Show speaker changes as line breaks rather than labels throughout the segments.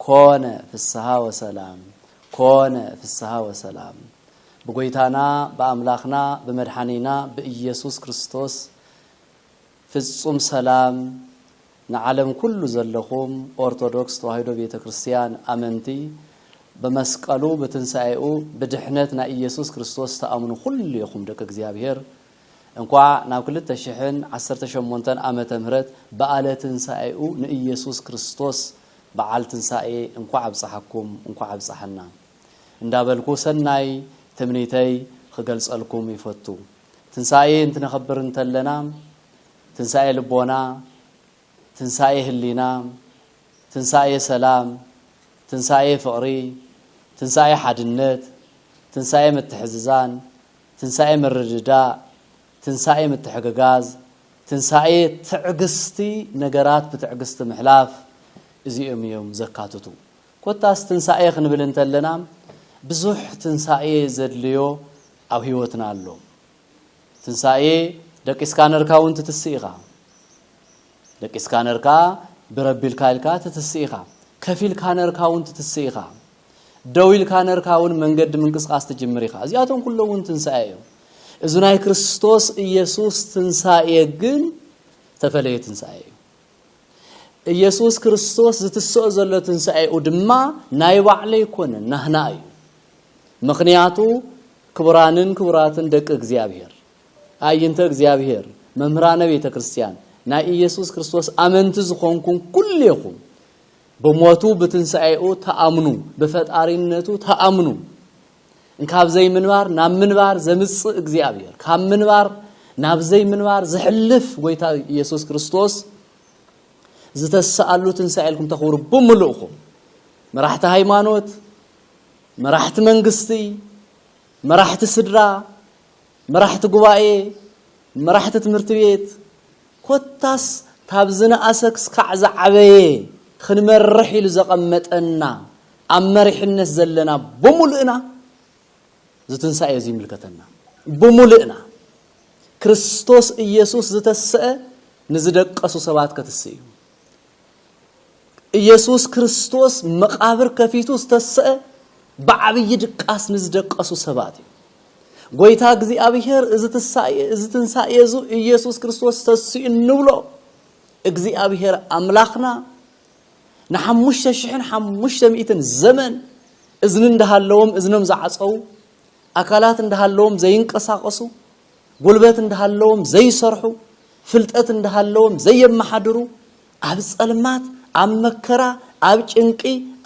ኮነ ፍስሃ ወሰላም ኮነ ፍስሃ ወሰላም ብጎይታና ብኣምላኽና ብመድሓኒና ብኢየሱስ ክርስቶስ ፍጹም ሰላም ንዓለም ኩሉ ዘለኹም ኦርቶዶክስ ተዋሂዶ ቤተ ክርስቲያን ኣመንቲ ብመስቀሉ ብትንሳኤኡ ብድሕነት ናይ ኢየሱስ ክርስቶስ ተኣምኑ ኩሉ ኢኹም ደቂ እግዚኣብሔር እንኳዕ ናብ ክልተ ሽሕን ዓሰርተ ሸሞንተን ዓመተ ምህረት በዓለ ትንሳኤኡ ንኢየሱስ ክርስቶስ በዓል ትንሳኤ እንኳዕ ኣብፀሓኩም እንኳዕ ኣብፀሐና እንዳበልኩ ሰናይ ትምኒተይ ኽገልፀልኩም ይፈቱ ትንሳኤ እንትነኽብር እንተለና ትንሳኤ ልቦና ትንሳኤ ህሊና ትንሳኤ ሰላም ትንሳኤ ፍቕሪ ትንሳኤ ሓድነት ትንሳኤ ምትሕዝዛን ትንሳኤ ምርድዳእ ትንሳኤ ምትሕግጋዝ፣ ትንሳኤ ትዕግስቲ ነገራት ብትዕግስቲ ምሕላፍ እዚኦም እዮም ዘካትቱ። ኮታስ ትንሳኤ ክንብል እንተለና ብዙሕ ትንሳኤ ዘድልዮ ኣብ ህይወትና ኣሎ። ትንሳኤ ደቂስካ ነርካ እውን ትትስእ ኢኻ። ደቂስካ ነርካ ብረቢልካ ኢልካ ትትስእ ኢኻ። ከፊልካ ነርካ እውን ትትስእ ኢኻ። ደው ኢልካ ነርካ እውን መንገዲ ምንቅስቃስ ትጅምር ኢኻ። እዚኣቶም ኩሎም እውን ትንሳኤ እዮም። እዚ ናይ ክርስቶስ ኢየሱስ ትንሳኤ ግን ተፈለየ ትንሳኤ እዩ። ኢየሱስ ክርስቶስ ዝትስኦ ዘሎ ትንሳኤኡ ድማ ናይ ባዕለ ኣይኮነን ናህና እዩ ምክንያቱ ክቡራንን ክቡራትን ደቂ እግዚኣብሔር ኣየንተ እግዚኣብሔር መምህራነ ቤተ ክርስቲያን ናይ ኢየሱስ ክርስቶስ ኣመንቲ ዝኾንኩም ኩሌኹም ብሞቱ ብትንሳኤኡ ተኣምኑ ብፈጣሪነቱ ተኣምኑ እንካብ ዘይምንባር ናብ ምንባር ዘምጽእ እግዚኣብሔር ካብ ምንባር ናብ ዘይምንባር ዝሕልፍ ጎይታ ኢየሱስ ክርስቶስ ዝተሰኣሉ ትንሳኤ ኢልኩም ተኽብሩ ብምልእኹም መራሕቲ ሃይማኖት መራሕቲ መንግስቲ መራሕቲ ስድራ መራሕቲ ጉባኤ፣ መራሕቲ ትምህርቲ ቤት ኮታስ ካብ ዝነኣሰ ክስካዕ ዝዓበየ ክንመርሕ ኢሉ ዘቐመጠና ኣብ መሪሕነት ዘለና ብሙሉእና እዚ ትንሳኤ እዚ ይምልከተና። ብሙሉእና። ክርስቶስ ኢየሱስ ዝተሰእ ንዝደቀሱ ሰባት ከትስእ እዩ። ኢየሱስ ክርስቶስ መቓብር ከፊቱ ዝተሰአ ብዓብዪ ድቃስ ንዝደቀሱ ሰባት እዩ። ጐይታ እግዚኣብሔር እዚ ትሳኤ እዚ ትንሳኤ እዙ ኢየሱስ ክርስቶስ ተስኡ እንብሎ እግዚኣብሔር ኣምላኽና ንሓሙሽተ ሽሕን ሓሙሽተ ሚእትን ዘመን እዝኒ እንዳሃለዎም እዝኖም ዝዓፀዉ ኣካላት እንዳሃለዎም ዘይንቀሳቐሱ ጉልበት እንዳሃለዎም ዘይሰርሑ፣ ፍልጠት እንዳሃለዎም ዘየመሓድሩ፣ ኣብ ጸልማት፣ ኣብ መከራ፣ ኣብ ጭንቂ፣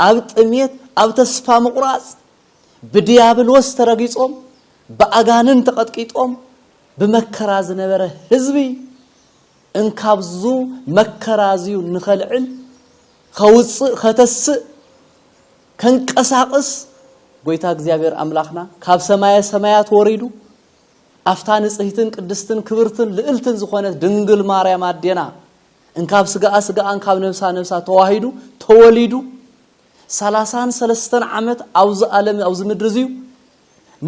ኣብ ጥምየት፣ ኣብ ተስፋ ምቑራጽ፣ ብድያብሎስ ተረጊጾም፣ ብኣጋንን ተቐጥቂጦም ብመከራ ዝነበረ ህዝቢ፣ እንካብዙ መከራዚዩ ንኸልዕል፣ ኸውጽእ፣ ኸተስእ፣ ከንቀሳቕስ፣ ጎይታ እግዚኣብሔር ኣምላኽና ካብ ሰማየ ሰማያት ወሪዱ፣ ኣብታ ንጽህትን ቅድስትን ክብርትን ልእልትን ዝኾነት ድንግል ማርያም ኣዴና እንካብ ስጋኣ ስጋኣ እንካብ ነብሳ ነብሳ ተዋሂዱ ተወሊዱ ሰላሳን ሰለስተን ዓመት ኣብዚ ኣለም ኣብዚ ምድሪ እዚዩ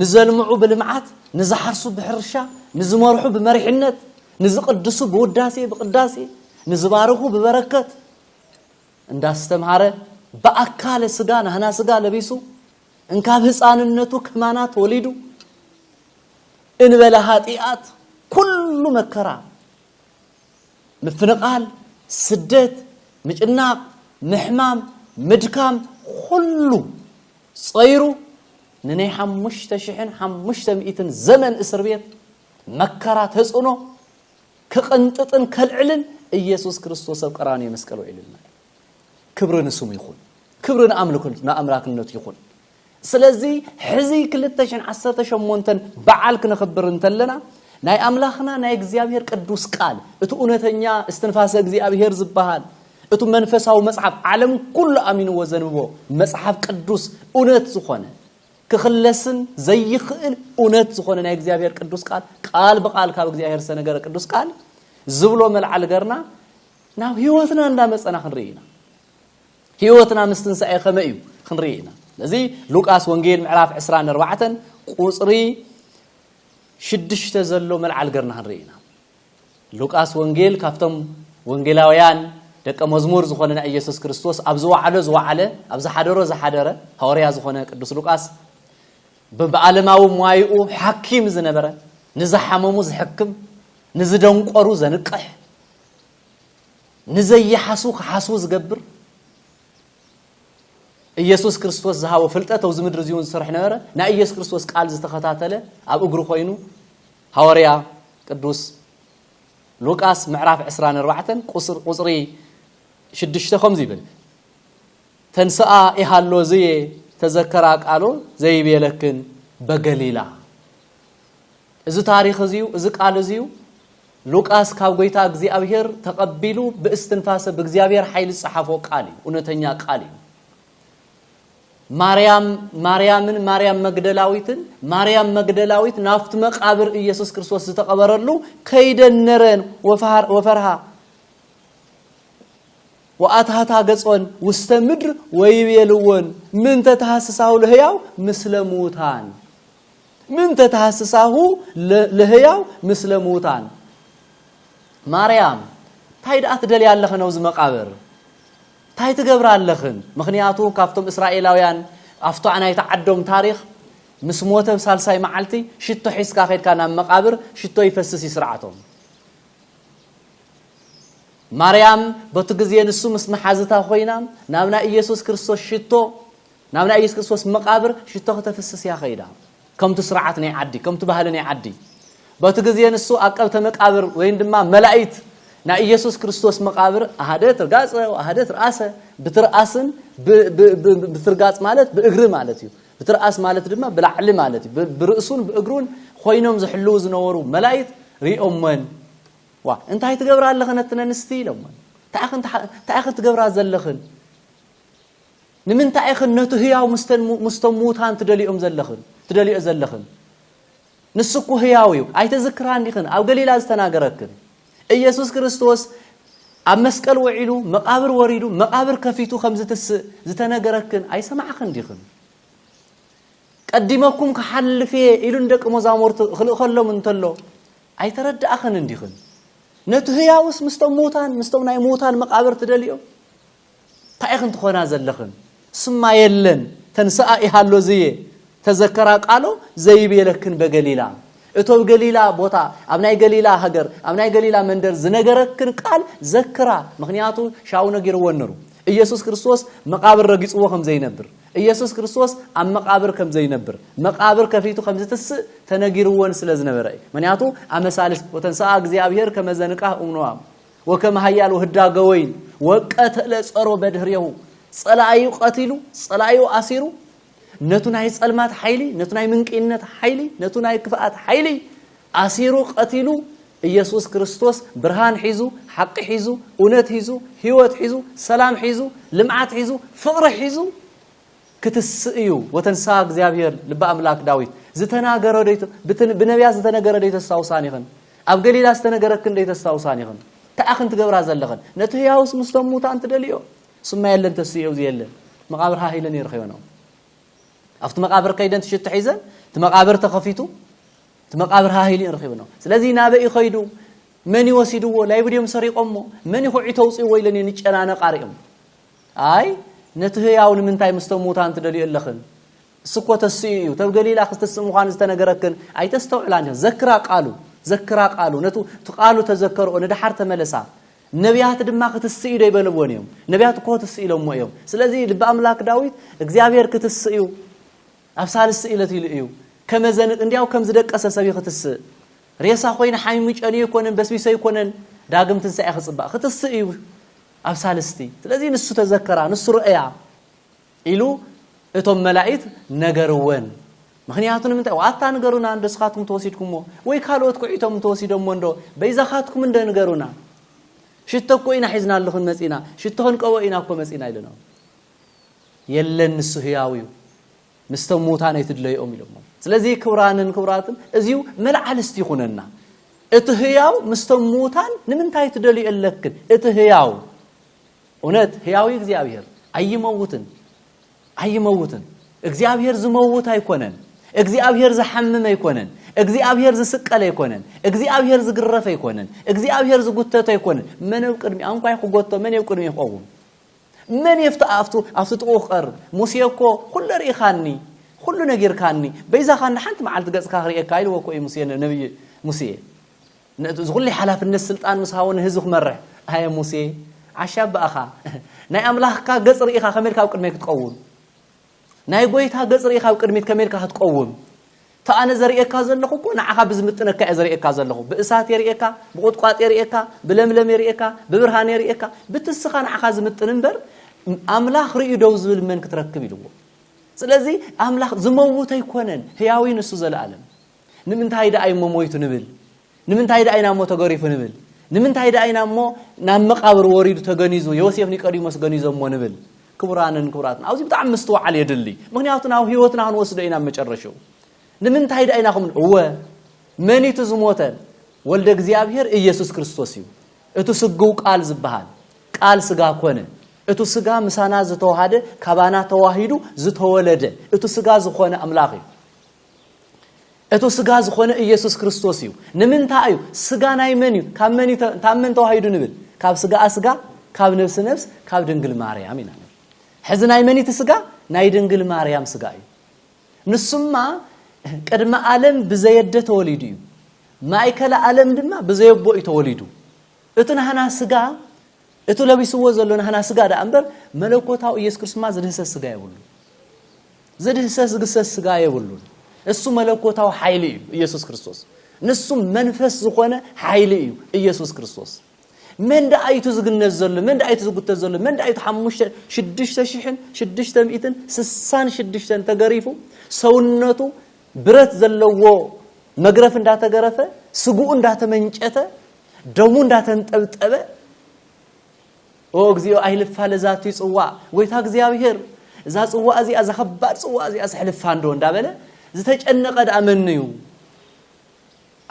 ንዘልምዑ ብልምዓት ንዝሓርሱ ብሕርሻ ንዝመርሑ ብመሪሕነት ንዝቅድሱ ብውዳሴ ብቅዳሴ ንዝባርኹ ብበረከት እንዳስተምሃረ ብኣካለ ስጋ ናህና ስጋ ለቢሱ እንካብ ህፃንነቱ ከማና ተወሊዱ እንበለ ሃጢኣት ኩሉ መከራ ምፍንቓል፣ ስደት፣ ምጭናቕ፣ ምሕማም፣ ምድካም ኹሉ ፀይሩ ንናይ ሓሙሽተ ሽሕን ሓሙሽተ ሚእትን ዘመን እስር ቤት መከራ ተፅዕኖ ክቕንጥጥን ከልዕልን ኢየሱስ ክርስቶስ ኣብ ቀራንዮ መስቀል ውዒሉልና እዩ። ክብሪ ንስሙ ይኹን ክብሪ ንኣምላክነቱ ይኹን ስለዚ ሕዚ ክልተ ሽን ዓሰርተ ሸሞንተን በዓል ክነኽብር እንተለና ናይ ኣምላኽና ናይ እግዚኣብሔር ቅዱስ ቃል እቲ እውነተኛ እስትንፋሰ እግዚኣብሔር ዝበሃል እቱ መንፈሳዊ መጽሓፍ ዓለም ኩሉ ኣሚንዎ ዘንብቦ መጽሓፍ ቅዱስ እውነት ዝኾነ ክኽለስን ዘይኽእል እውነት ዝኾነ ናይ እግዚኣብሔር ቅዱስ ቃል ቃል ብቃል ካብ እግዚኣብሔር ዝተነገረ ቅዱስ ቃል ዝብሎ መልዓል ገርና ናብ ህይወትና እንዳመጸና ክንርኢ ኢና ህይወትና ምስ ትንሳኤ ከመይ እዩ ክንርኢ ኢና ስለዚ ሉቃስ ወንጌል ምዕራፍ 24 ቁጽሪ ሽዱሽተ ዘሎ መልዓል ገርና ክንርኢ ኢና ሉቃስ ወንጌል ካብቶም ወንጌላውያን ደቀ መዝሙር ዝኾነ ናይ ኢየሱስ ክርስቶስ ኣብ ዝወዓሎ ዝወዓለ ኣብ ዝሓደሮ ዝሓደረ ሃዋርያ ዝኾነ ቅዱስ ሉቃስ ብዓለማዊ ሟይኡ ሓኪም ዝነበረ ንዝሓመሙ ዝሕክም ንዝደንቆሩ ዘንቅሕ ንዘይሓስዉ ክሓስዉ ዝገብር ኢየሱስ ክርስቶስ ዝሃቦ ፍልጠት ኣብዚ ምድሪ እዚውን ዝሰርሕ ነበረ ናይ ኢየሱስ ክርስቶስ ቃል ዝተኸታተለ ኣብ እግሩ ኮይኑ ሃዋርያ ቅዱስ ሉቃስ ምዕራፍ 24 ቁፅሪ ሽዱሽተ ከምዚ ይብል ተንስኣ ኢሃሎ ዝየ ተዘከራ ቃሎ ዘይቤለክን በገሊላ እዚ ታሪኽ እዚዩ እዚ ቃል እዚዩ ሉቃስ ካብ ጎይታ እግዚኣብሔር ተቐቢሉ ብእስትንፋሰ ብእግዚኣብሔር ሓይሊ ዝጸሓፎ ቃል እዩ፣ እውነተኛ ቃል እዩ። ማርያም ማርያምን ማርያም መግደላዊትን ማርያም መግደላዊት ናብቲ መቃብር ኢየሱስ ክርስቶስ ዝተቐበረሉ ከይደን ነረን ወፈርሃ ወኣትሃታ ገጾን ውስተ ምድር ወይቤልወን ምንተ ተሃስሳሁ ለህያው ምስለ ምዉታን ምን ተተሃስሳሁ ለህያው ምስለ ምዉታን ማርያም ታይ ደኣ ትደልያ ኣለኽን ኣብዚ መቃብር ታይ ትገብራ ኣለኽን ምኽንያቱ ካብቶም እስራኤላውያን ኣብታ ናይቲ ዓዶም ታሪኽ ምስ ሞተ ሳልሳይ መዓልቲ ሽቶ ሒዝካ ከድካ ናብ መቃብር ሽቶ ይፈስስ እዩ ስርዓቶም ማርያም በቲ ግዜ ንሱ ምስ መሓዝታ ኮይና ናብ ናይ ኢየሱስ ክርስቶስ ሽቶ ናብ ናይ ኢየሱስ ክርስቶስ መቃብር ሽቶ ክተፍስስ እያ ከይዳ ከምቲ ስርዓት ናይ ዓዲ ከምቲ ባህሊ ናይ ዓዲ በቲ ግዜ ንሱ ኣቀብተ መቃብር ወይን ድማ መላኢት ናይ ኢየሱስ ክርስቶስ መቃብር ኣሃደ ትርጋጸ ኣሃደ ትርኣሰ ብትርኣስን ብትርጋጽ ማለት ብእግሪ ማለት እዩ ብትርኣስ ማለት ድማ ብላዕሊ ማለት እዩ ብርእሱን ብእግሩን ኮይኖም ዝሕልው ዝነበሩ መላኢት ሪኦሞን ዋ እንታይ ትገብራ ኣለኽን ኣትነንስቲ ኢሎሞን እንታይ ክትገብራ ዘለኽን ንምንታይ ኢኽን ነቲ ህያው ምስቶም ምዉታን ትደልዮም ዘለኽን ትደልዮ ዘለኽን? ንሱ እኮ ህያው እዩ። ኣይተዝክራን ዲኽን ኣብ ገሊላ ዝተናገረክን? ኢየሱስ ክርስቶስ ኣብ መስቀል ውዒሉ መቃብር ወሪዱ መቃብር ከፊቱ ከም ዝትስእ ዝተነገረክን ኣይሰማዕኽን ዲኽን? ቀዲመኩም ክሓልፍ እየ ኢሉ ንደቂ መዛሙርቱ ክልእኸሎም እንተሎ ኣይተረዳእኽን እንዲኽን? ነቲ ህያውስ ምስቶም ምዉታን ምስቶም ናይ ምዉታን መቃብር ትደልዮ? ታይ ኢኽን ትኾና ዘለኽን ስማ የለን ተንስኣ ይሃሎ ዝየ ተዘከራ ቃሎ ዘይቤለክን በገሊላ እቶ ኣብ ገሊላ ቦታ ኣብ ናይ ገሊላ ሃገር ኣብ ናይ ገሊላ መንደር ዝነገረክን ቃል ዘክራ ምክንያቱ ሻው ነጊርዎ ነሩ ኢየሱስ ክርስቶስ መቃብር ረጊጽዎ ከም ዘይነብር ኢየሱስ ክርስቶስ ኣብ መቃብር ከም ዘይነብር መቃብር ከፊቱ ከም ዝትስእ ተነጊርዎን ስለ ዝነበረ እዩ ምክንያቱ ኣመሳልስ ወተንስኣ እግዚኣብሔር ከመዘንቃህ እምኖኣም ወከም ሃያሎ ህዳገ ወይን ወቀተለ ጸሮ በድህሬሁ ጸላኣዩ ቀቲሉ ጸላኣዩ ኣሲሩ ነቱ ናይ ጸልማት ሓይሊ ነቱ ናይ ምንቅይነት ሓይሊ ነቱ ናይ ክፍኣት ሓይሊ ኣሲሩ ቀቲሉ ኢየሱስ ክርስቶስ ብርሃን ሒዙ ሓቂ ሒዙ እውነት ሒዙ ህይወት ሒዙ ሰላም ሒዙ ልምዓት ሒዙ ፍቕሪ ሒዙ ክትስእ እዩ ወተንሳ እግዚኣብሔር ልቢ ኣምላክ ዳዊት ዝተናገረ ብነቢያት ዝተነገረ ዶ ተስታውሳን ይኽን ኣብ ገሊላ ዝተነገረክን ደይ ተስታውሳን ኢኽን እንታይ ኣኽን ትገብራ ዘለኽን ነቲ ህያውስ ምስቶም ሙታን ትደልዮ ስማ የለን ተስእየው ዝየለን መቓብር ሃህ ኢለን ይርኸዮኖም ኣብቲ መቃብር ከይደን ትሽቶ ሒዘን እቲ መቃብር ተኸፊቱ እቲ መቃብር ሃሂሉ ይረኺብኖ ስለዚ ናበይ ይኸይዱ መን ይወሲድዎ ላይብ ድዮም ሰሪቖሞ መን ይኹዒ ተውፅእዎ ኢለን እየን ይጨናነቃ ሪኦም ኣይ ነቲ ህያው ንምንታይ ምስቶም ሙታን ትደልዩ ኣለኽን እስኮ ተሲኡ እዩ ተብ ገሊላ ክስትስእ ምዃኑ ዝተነገረክን ኣይተስተውዕላን ኢኽን ዘክራ ቃሉ ዘክራ ቃሉ ነቱ ትቃሉ ተዘከርኦ ንደሓር ተመለሳ ነቢያት ድማ ክትስእ ዶ ይበልዎን እዮም ነቢያት እኮ ትስእ ኢሎሞ እዮም ስለዚ ልቢ ኣምላክ ዳዊት እግዚኣብሔር ክትስእ እዩ ኣብ ሳልስቲ እለት ኢሉ እዩ ከመዘን እንዲያው ከም ዝደቀሰ ሰብ ይክትስእ ሬሳ ኮይኑ ሓሚሙ ጨንዩ ይኮነን በስቢሶ ይኮነን ዳግም ትንሳኤ ክፅባእ ክትስእ እዩ ኣብ ሳልስቲ ስለዚ ንሱ ተዘከራ ንሱ ርእያ ኢሉ እቶም መላኢት ነገርወን። ምኽንያቱ ንምንታይ? ዋኣታ ንገሩና እንዶ ስኻትኩም ተወሲድኩሞ ወይ ካልኦት ኩዒቶም እንተወሲዶሞ እንዶ በይዛኻትኩም እንዶ ንገሩና ሽቶ እኮ ኢና ሒዝናልኽን መጺና ሽቶ ክንቀቦ ኢና እኮ መጺና ኢለኖ የለን ንሱ ህያው እዩ ምስቶም ምውታን ኣይትድለይኦም ኢሎሞ ስለዚ ክብራንን ክብራትን እዚዩ መልዓል እስቲ ይኹነና እቲ ህያው ምስቶም ምውታን ንምንታይ ትደልዩ ኣለክን እቲ ህያው እውነት ህያዊ እግዚኣብሔር ኣይመውትን ኣይመውትን እግዚኣብሔር ዝመውት ኣይኮነን እግዚኣብሔር ዝሓምም ኣይኮነን እግዚኣብሔር ዝስቀል ኣይኮነን እግዚኣብሔር ዝግረፍ ኣይኮነን እግዚኣብሔር ዝጉተት ኣይኮነን መን ኣብ ቅድሚ ኣንኳይ ክጎቶ መን ኣብ ቅድሚ ክቐውም መን የፍቲ ኣብቱ ኣብቲ ጥቑ ክቐርብ ሙሴ እኮ ኩሉ ርኢኻኒ ኩሉ ነጊርካኒ በይዛኻኒ ሓንቲ መዓልቲ ገጽካ ክርእየካ ኢልዎ እኮ እዩ ሙሴ ነብይ ሙሴ ነቲ ዝኹሉ ሓላፍነት ስልጣን ምስ ሃቦ ንህዝቢ ክመርሕ፣ ኣየ ሙሴ ዓሻ እባእኻ ናይ ኣምላኽካ ገጽ ርኢኻ ከመይ ኢልካ ኣብ ቅድመይ ክትቀውም፣ ናይ ጎይታ ገጽ ርኢኻ ኣብ ቅድሚት ከመይ ኢልካ ክትቀውም፣ እቲ ኣነ ዘርእየካ ዘለኹ እኮ ንዓኻ ብዝምጥነካ እየ ዘርእየካ ዘለኹ፣ ብእሳት እየ ርእየካ፣ ብቁጥቋጥ እየ ርእየካ፣ ብለምለም እየ ርእየካ፣ ብብርሃን እየ ርእየካ፣ ብቲ እስኻ ንዓኻ ዝምጥን እምበር ኣምላኽ ርእዩ ደው ዝብል መን ክትረክብ ኢልዎ። ስለዚ ኣምላኽ ዝመውት ኣይኮነን፣ ህያው እዩ ንሱ ዘለኣለም። ንምንታይ ደኣ እዩሞ ሞይቱ ንብል? ንምንታይ ደኣ እዩናሞ ተገሪፉ ንብል? ንምንታይ ደኣ እዩናሞ ናብ መቓብር ወሪዱ ተገኒዙ ዮሴፍ ኒቀዲሞስ ገኒዞሞ ንብል? ክቡራንን ክቡራትን ኣብዚ ብጣዕሚ ምስትውዓል የድሊ። ምኽንያቱ ናብ ህይወትና ክንወስዶ ኢና ኣብ መጨረሽኡ። ንምንታይ ደኣ ኢና ከምኡ እወ መን እዩ እቲ ዝሞተ? ወልደ እግዚኣብሔር ኢየሱስ ክርስቶስ እዩ። እቲ ስግው ቃል ዝበሃል ቃል ስጋ ኮነ እቲ ስጋ ምሳና ዝተዋሃደ ካባና ተዋሂዱ ዝተወለደ እቲ ስጋ ዝኾነ ኣምላኽ እዩ። እቱ ስጋ ዝኾነ ኢየሱስ ክርስቶስ እዩ ንምንታይ እዩ ስጋ ናይ መን እዩ ካብ መን ካብ መን ተዋሂዱ ንብል ካብ ስጋ ስጋ ካብ ነብሲ ነብስ ካብ ድንግል ማርያም ኢና ንብል ሕዚ ናይ መን እቲ ስጋ ናይ ድንግል ማርያም ስጋ እዩ ንሱማ ቅድሚ ዓለም ብዘየደ ተወሊዱ እዩ ማእከለ ዓለም ድማ ብዘየቦ እዩ ተወሊዱ እቲ ናህና ስጋ እቲ ለቢስዎ ዘሎ ናህና ስጋ ደኣ እምበር መለኮታዊ ኢየሱስ ክርስቶስ ድማ ዝድህሰስ ስጋ የብሉን። ዝድህሰስ ዝግሰስ ስጋ የብሉን። እሱ መለኮታዊ ሓይሊ እዩ ኢየሱስ ክርስቶስ። ንሱ መንፈስ ዝኾነ ሓይሊ እዩ ኢየሱስ ክርስቶስ። መን ደኣ እዩ እቲ ዝግነዝ ዘሎ መን ደኣ እዩ እቲ ዝጉተት ዘሎ መን ደኣ እዩ እቲ ሓሙሽተ ሽዱሽተ ሽሕን ሽዱሽተ ሚእትን ስሳን ሽዱሽተን ተገሪፉ ሰውነቱ ብረት ዘለዎ መግረፍ እንዳተገረፈ ስግኡ እንዳተመንጨተ ደሙ እንዳተንጠብጠበ ኦ እግዚኦ ኣይልፋለ ዛቲ ጽዋዕ ጎይታ እግዚኣብሄር እዛ ጽዋዕ እዚኣ እዛ ከባድ ጽዋዕ እዚኣ ስሕልፋ እንዶ እንዳበለ ዝተጨነቐ ደኣ መን እዩ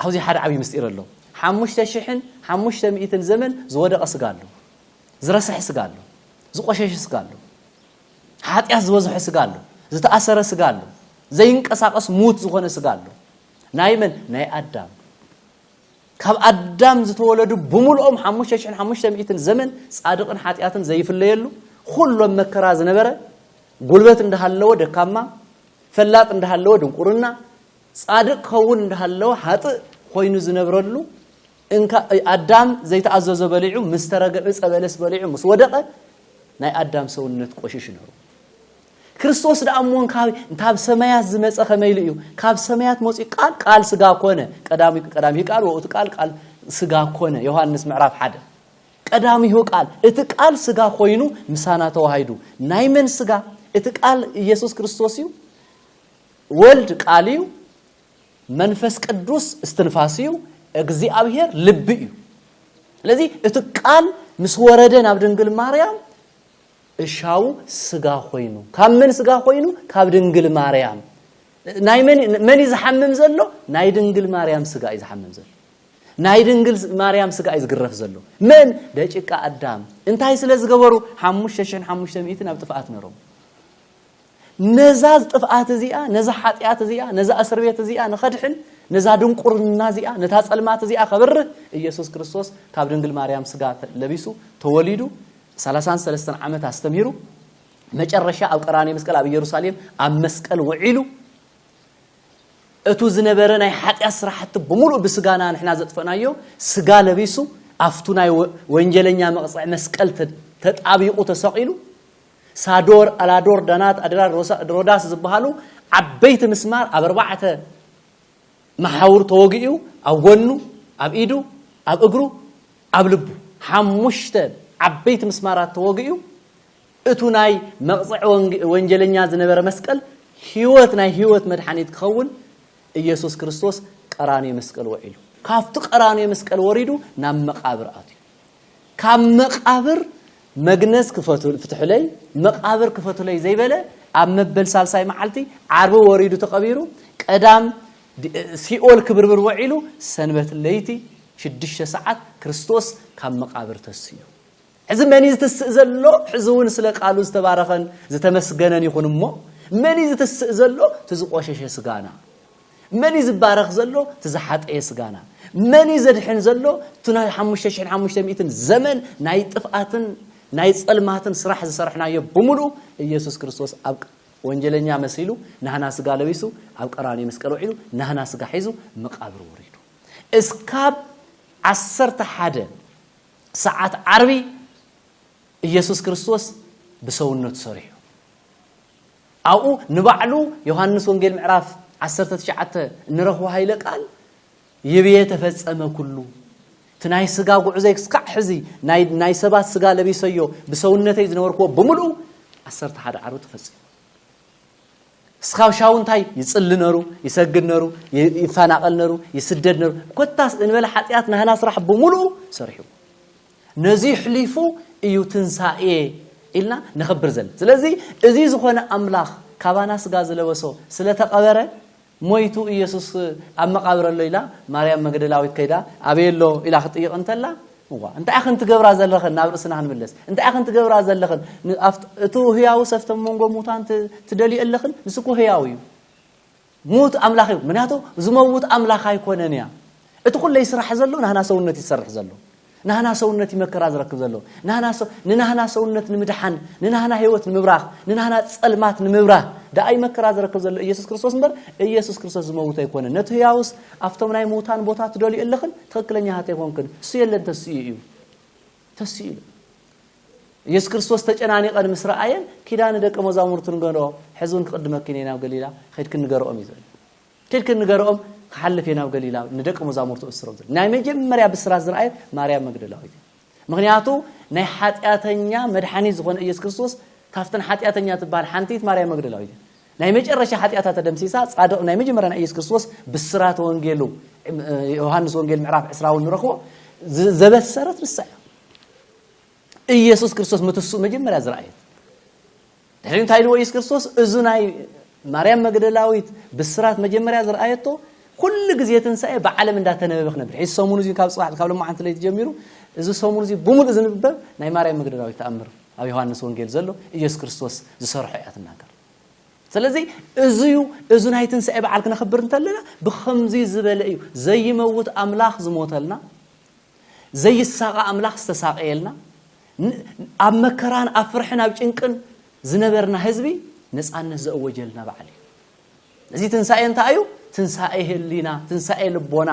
ኣብዚ ሓደ ዓብዪ ምስጢር ኣሎ ሓሙሽተ ሽሕን ሓሙሽተ ሚእትን ዘመን ዝወደቐ ስጋ ኣሎ ዝረስሐ ስጋ ኣሎ ዝቆሸሸ ስጋ ኣሎ ሓጢኣት ዝበዝሖ ስጋ ኣሎ ዝተኣሰረ ስጋ ኣሎ ዘይንቀሳቐስ ሙት ዝኾነ ስጋ ኣሎ ናይ መን ናይ ኣዳም ካብ ኣዳም ዝተወለዱ ብምልኦም ሓሙሽተ ሽሕን ሓሙሽተ ሚእትን ዘመን ጻድቕን ሓጢኣትን ዘይፍለየሉ ኹሉ ኣብ መከራ ዝነበረ ጉልበት እንዳሃለወ ደካማ ፈላጥ እንዳሃለወ ድንቁርና ጻድቅ ክኸውን እንዳሃለወ ሓጥእ ኮይኑ ዝነብረሉ እንካ ኣዳም ዘይተኣዘዞ በሊዑ ምስ ተረገ ዕፀ በለስ በሊዑ ምስ ወደቐ ናይ ኣዳም ሰውነት ቆሽሽ ነሩ። ክርስቶስ ደኣ እሞ ካብ ሰማያት ዝመፀ ከመይ ኢሉ እዩ ካብ ሰማያት መፅኡ ቃል ቃል ስጋ ኮነ ቀዳሚ ቃል ወእቱ ቃል ቃል ስጋ ኮነ ዮሃንስ ምዕራፍ ሓደ ቀዳሚሁ ቃል እቲ ቃል ስጋ ኮይኑ ምሳና ተዋሂዱ ናይ መን ስጋ እቲ ቃል ኢየሱስ ክርስቶስ እዩ ወልድ ቃል እዩ መንፈስ ቅዱስ እስትንፋስ እዩ እግዚኣብሔር ልቢ እዩ ስለዚ እቲ ቃል ምስ ወረደ ናብ ድንግል ማርያም እሻቡ ስጋ ኮይኑ ካብ መን ስጋ ኮይኑ ካብ ድንግል ማርያም ናይ መን መን እዩ ዝሓምም ዘሎ ናይ ድንግል ማርያም ስጋ እዩ ዝሓምም ዘሎ ናይ ድንግል ማርያም ስጋ እዩ ዝግረፍ ዘሎ መን ደጭቃ ኣዳም እንታይ ስለ ዝገበሩ ሓሙሽተ ሽሕን ሓሙሽተ ሚእትን ኣብ ጥፍኣት ነሮም ነዛ ዝጥፍኣት እዚኣ ነዛ ሓጢኣት እዚኣ ነዛ እስር ቤት እዚኣ ንኸድሕን ነዛ ድንቁርና እዚኣ ነታ ጸልማት እዚኣ ከብርህ ኢየሱስ ክርስቶስ ካብ ድንግል ማርያም ስጋ ለቢሱ ተወሊዱ ሰላሳን ሰለስተን ዓመት ኣስተምሂሩ መጨረሻ ኣብ ቀራንዮ መስቀል ኣብ ኢየሩሳሌም ኣብ መስቀል ውዒሉ እቱ ዝነበረ ናይ ሓጢኣት ስራሕቲ ብምሉእ ብስጋና ንሕና ዘጥፈናዮ ስጋ ለቢሱ ኣብቱ ናይ ወንጀለኛ መቕፅዕ መስቀል ተጣቢቑ ተሰቒሉ ሳዶር፣ ኣላዶር፣ ዳናት፣ ኣድራር፣ ሮዳስ ዝበሃሉ ዓበይቲ ምስማር ኣብ ኣርባዕተ መሓውር ተወጊኡ ኣብ ጎኑ፣ ኣብ ኢዱ፣ ኣብ እግሩ፣ ኣብ ልቡ ሓሙሽተ ዓበይቲ ምስማራት ተወጊኡ እቱ ናይ መቕፅዒ ወንጀለኛ ዝነበረ መስቀል ህይወት ናይ ህይወት መድሓኒት ክኸውን ኢየሱስ ክርስቶስ ቀራንዮ መስቀል ወዒሉ ካብቲ ቀራንዮ መስቀል ወሪዱ ናብ መቃብር ኣትዩ ካብ መቃብር መግነዝ ክፈቱ ፍትሑለይ መቃብር ክፈቱለይ ዘይበለ ኣብ መበል ሳልሳይ መዓልቲ ዓርቢ ወሪዱ ተቐቢሩ ቀዳም ሲኦል ክብርብር ወዒሉ ሰንበት ለይቲ ሽዱሽተ ሰዓት ክርስቶስ ካብ መቃብር ተስዩ ሕዚ መን እዩ ዝትስእ ዘሎ ሕዚ እውን ስለ ቃሉ ዝተባረኸን ዝተመስገነን ይኹን እሞ መን እዩ ዝትስእ ዘሎ እቲ ዝቆሸሸ ስጋና መን እዩ ዝባረኽ ዘሎ? እቲ ዝሓጠየ ስጋና። መን እዩ ዘድሕን ዘሎ? እቲ ናይ ሓሙሽተ ሽሕን ሓሙሽተ ሚእትን ዘመን ናይ ጥፍኣትን ናይ ጸልማትን ስራሕ ዝሰርሕናዮ ብምሉኡ ኢየሱስ ክርስቶስ ኣብ ወንጀለኛ መሲሉ ናህና ስጋ ለቢሱ ኣብ ቀራንዮ መስቀል ውዒሉ ናህና ስጋ ሒዙ መቃብር ወሪዱ እስካብ ዓሰርተ ሓደ ሰዓት ዓርቢ ኢየሱስ ክርስቶስ ብሰውነቱ ሰሪሑ ኣብኡ ንባዕሉ ዮሃንስ ወንጌል ምዕራፍ ዓሰርተ ትሽዓተ እንረኽቦ ሃይለ ቃል ይብየ ተፈጸመ ኩሉ እቲ ናይ ስጋ ጉዕዘይ ክስካዕ ሕዚ ናይ ሰባት ስጋ ለቢሰዮ ብሰውነተይ ዝነበርክዎ ብምልኡ ዓሰርተ ሓደ ዓርቢ ተፈጺሙ እስካብ ሻው እንታይ ይጽሊ ነሩ ይሰግድ ነሩ ይፈናቐል ነሩ ይስደድ ነሩ ኮታስ እንበለ ሓጢኣት ናህና ስራሕ ብምሉኡ ሰሪሕዎ ነዚ ይሕሊፉ እዩ ትንሳኤ ኢልና ነኸብር ዘለ ስለዚ እዚ ዝኾነ ኣምላኽ ካባና ስጋ ዝለበሶ ስለ ተቐበረ ሞይቱ ኢየሱስ ኣብ መቃብር ኣሎ ኢላ ማርያም መግደላዊት ከይዳ ኣበይ ኣሎ ኢላ ክትጥይቕ እንተላ እዋ እንታይ ኢኽን ትገብራ ዘለኽን ናብ ርእስና ክንምለስ እንታይ ኢኽን ትገብራ ዘለኽን እቲ ህያውስ ኣብቶም መንጎ ሙታን ትደልዩ ኣለኽን ንስኩ ህያው እዩ ሙት ኣምላኽ እዩ ምክንያቱ ዝመውት ኣምላኽ ኣይኮነን እያ እቲ ኩለይ ስራሕ ዘሎ ናህና ሰውነት ይሰርሕ ዘሎ ናህና ሰውነት ይመከራ ዝረክብ ዘሎ ናህና ንናህና ሰውነት ንምድሓን ንናህና ህይወት ንምብራኽ ንናህና ጸልማት ንምብራህ ደኣ ይመከራ ዝረክብ ዘሎ ኢየሱስ ክርስቶስ እምበር ኢየሱስ ክርስቶስ ዝመውት ኣይኮነን ነቲ ህያውስ ኣብቶም ናይ ምውታን ቦታ ትደልዩ ኣለኽን ትኽክለኛታት ኣይኮንክን እሱ የለን ተስኡ እዩ ተሲእሉ። ኢየሱስ ክርስቶስ ተጨናኒቐን ምስ ረኣየን ኪዳ ንደቀ መዛሙርቱ ንገርኦ ሕዚ እውን ክቕድመኪን እየ ናብ ገሊላ ከድክን ንገርኦም እዩ ዝብል ከድክን ንገርኦም ክሓልፍ እየ ናብ ገሊላ ንደቀ መዛሙርቱ እስሮም ዝብል ናይ መጀመርያ ብስራት ዝረኣየት ማርያም መግደላዊት እዩ ምክንያቱ ናይ ሓጢኣተኛ መድሓኒ ዝኾነ ኢየሱስ ክርስቶስ ካብተን ሓጢኣተኛ ትበሃል ሓንቲት ማርያም መግደላዊት እዩ ናይ መጨረሻ ሓጢኣታ ተደምሲሳ ጻድቕ ናይ መጀመርያ ናይ ኢየሱስ ክርስቶስ ብስራተ ወንጌሉ ዮሃንስ ወንጌል ምዕራፍ ዕስራ እውን ንረኽቦ ዘበሰረት ንሳ እያ ኢየሱስ ክርስቶስ ምትስኡ መጀመርያ ዝረኣየት ድሕሪ እንታይ ኢልዎ ኢየሱስ ክርስቶስ እዚ ናይ ማርያም መግደላዊት ብስራት መጀመርያ ዝረኣየቶ ኩሉ ግዜ ትንሳኤ ብዓለም እንዳተነበበ ክነብር ሕዚ ሰሙን እዚ ካብ ፅባሕ ካብ ሎማዓንቲ ለይቲ ጀሚሩ እዚ ሰሙን እዚ ብምሉእ ዝንብበብ ናይ ማርያም መግደላዊት ተኣምር ኣብ ዮሃንስ ወንጌል ዘሎ ኢየሱስ ክርስቶስ ዝሰርሖ እያ ትናገር ስለዚ እዚ እዩ እዚ ናይ ትንሳኤ በዓል ክነኽብር እንተለና ብከምዚ ዝበለ እዩ ዘይመውት ኣምላኽ ዝሞተልና ዘይሳቐ ኣምላኽ ዝተሳቐየልና ኣብ መከራን ኣብ ፍርሕን ኣብ ጭንቅን ዝነበርና ህዝቢ ነፃነት ዘእወጀልና በዓል እዩ እዚ ትንሳኤ እንታይ እዩ ትንሳኤ ህሊና ትንሳኤ ልቦና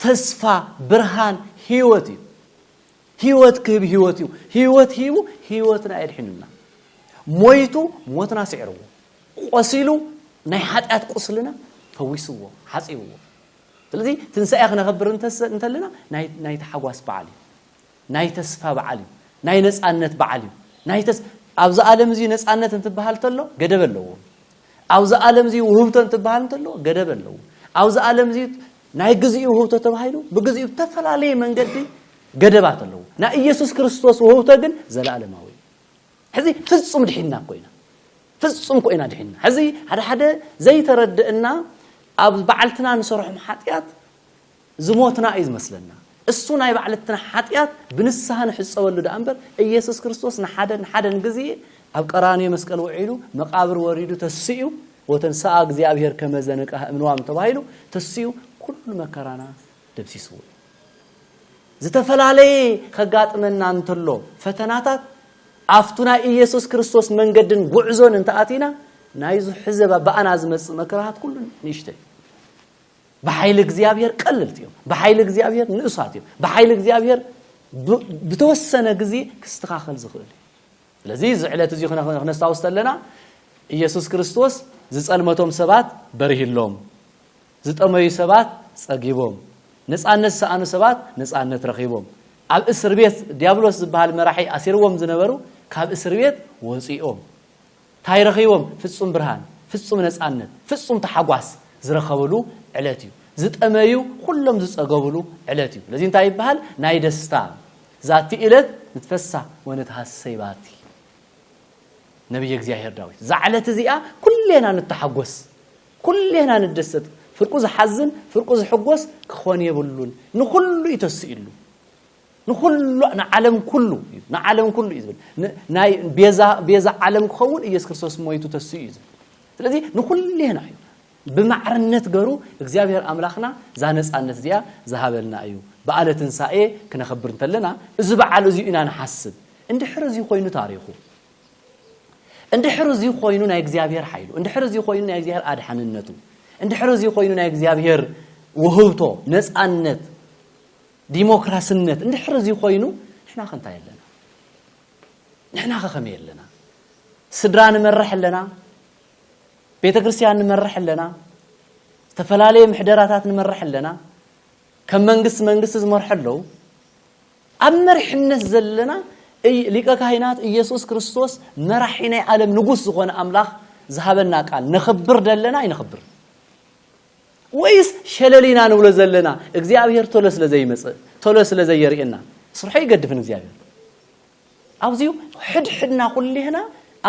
ተስፋ ብርሃን ህይወት እዩ ህይወት ክህብ ህይወት እዩ ህይወት ሂቡ ህይወትና የድሒኑና ሞይቱ ሞትና ስዒርዎ ቆሲሉ ናይ ሓጢኣት ቁስልና ፈዊስዎ ሓፂብዎ ስለዚ ትንሳኤ ክነኸብር እንተለና ናይ ተሓጓስ በዓል እዩ ናይ ተስፋ በዓል እዩ ናይ ነፃነት በዓል እዩ ናይ ተስ ኣብዚ ዓለም እዚ ነፃነት እንትበሃል ተሎ ገደብ ኣለዎ ኣብዚ ዓለም እዚ ውህብቶ እንትበሃል እንተሎ ገደብ ኣለዎ ኣብዚ ዓለም እዚ ናይ ግዚኡ ውህብቶ ተባሂሉ ብግዚኡ ብተፈላለየ መንገዲ ገደባት ኣለዎ። ናይ ኢየሱስ ክርስቶስ ውህብቶ ግን ዘለኣለማዊ እዩ። ሕዚ ፍጹም ድሒንና እኮ ኢና። ፍጹም እኮ ኢና ድሒንና። ሕዚ ሓደ ሓደ ዘይተረድእና ኣብ በዓልትና ንሰርሖም ሓጢኣት ዝሞትና እዩ ዝመስለና። እሱ ናይ ባዕልትና ሓጢኣት ብንስሃ ንሕጸበሉ ደኣ እምበር ኢየሱስ ክርስቶስ ንሓደን ሓደን ግዜ ኣብ ቀራንዮ መስቀል ውዒሉ መቃብር ወሪዱ ተሲኡ ወተንሥኣ እግዚኣብሔር ከመ ዘንቅሐ እምንዋም ተባሂሉ ተሲኡ ኩሉ መከራና ደምሲስዎ እዩ። ዝተፈላለየ ከጋጥመና እንተሎ ፈተናታት ኣብቱ ናይ ኢየሱስ ክርስቶስ መንገድን ጉዕዞን እንተኣቲና ናይዙ ሕዚ በኣና ዝመጽእ መከራታት ኩሉ ንእሽቶ እዩ። ብሓይሊ እግዚኣብሔር ቀልልቲ እዮም ብሓይሊ እግዚኣብሔር ንእሳት እዮም ብሓይሊ እግዚኣብሔር ብተወሰነ ግዜ ክስተኻኸል ዝኽእል እዩ ስለዚ እዚ ዕለት እዚ ክነስታውስ ተለና ኢየሱስ ክርስቶስ ዝጸልመቶም ሰባት በርሂሎም ዝጠመዩ ሰባት ጸጊቦም ነፃነት ዝሰኣኑ ሰባት ነፃነት ረኺቦም ኣብ እስር ቤት ዲያብሎስ ዝበሃል መራሒ ኣሲርዎም ዝነበሩ ካብ እስር ቤት ወፂኦም ታይ ረኺቦም ፍፁም ብርሃን ፍፁም ነፃነት ፍፁም ታሓጓስ ዝረኸብሉ ዕለት እዩ ዝጠመዩ ኹሎም ዝፀገቡሉ ዕለት እዩ ለዚ እንታይ ይበሃል ናይ ደስታ ዛቲ እለት ንትፈሳ ወነትሃሰይ ባቲ ነብየ እግዚኣብሔር ዳዊት እዛ ዕለት እዚኣ ኩሌና ንተሓጎስ ኩሌና ንደሰት ፍርቁ ዝሓዝን ፍርቁ ዝሕጎስ ክኾን የብሉን ንኹሉ እዩ ተስኢሉ ንኹሉ ንዓለም ኩሉ እዩ ንዓለም ኩሉ እዩ ዝብል ናይ ቤዛ ቤዛ ዓለም ክኸውን ኢየሱስ ክርስቶስ ሞይቱ ተስኡ እዩ ዝብል ስለዚ ንኹሌና እዩ ብማዕርነት ገሩ እግዚኣብሔር ኣምላኽና እዛ ነፃነት እዚኣ ዝሃበልና እዩ በዓለ ትንሳኤ ክነኽብር እንተለና እዚ በዓል እዚኡ ኢና ንሓስብ እንድሕር እዚ ኮይኑ ታሪኹ እንድሕር እዚ ኮይኑ ናይ እግዚኣብሔር ሓይሉ እንድሕር እዚ ኮይኑ ናይ እግዚኣብሔር ኣድሓንነቱ እንድሕር እዚ ኮይኑ ናይ እግዚኣብሔር ውህብቶ ነፃነት ዲሞክራስነት እንድሕር እዚ ኮይኑ ንሕናኸ እንታይ ኣለና? ንሕናኸ ከመይ ኣለና? ስድራ ንመርሕ ኣለና፣ ቤተ ክርስቲያን ንመርሕ ኣለና፣ ዝተፈላለየ ምሕደራታት ንመርሕ ኣለና፣ ከም መንግስቲ መንግስቲ ዝመርሑ ኣለዉ። ኣብ መሪሕነት ዘለና ሊቀ ካህናት ኢየሱስ ክርስቶስ መራሒ ናይ ዓለም ንጉስ ዝኾነ ኣምላኽ ዝሃበና ቃል ነኽብር ደለና ኣይነኽብር ወይስ ሸለል ኢና ንብሎ ዘለና እግዚኣብሄር ቶሎ ስለ ዘይመጽእ ቶሎ ስለ ዘየርእየና ስርሖ ኣይገድፍን እግዚኣብሄር ኣብዚዩ ሕድሕድና ኩሌህና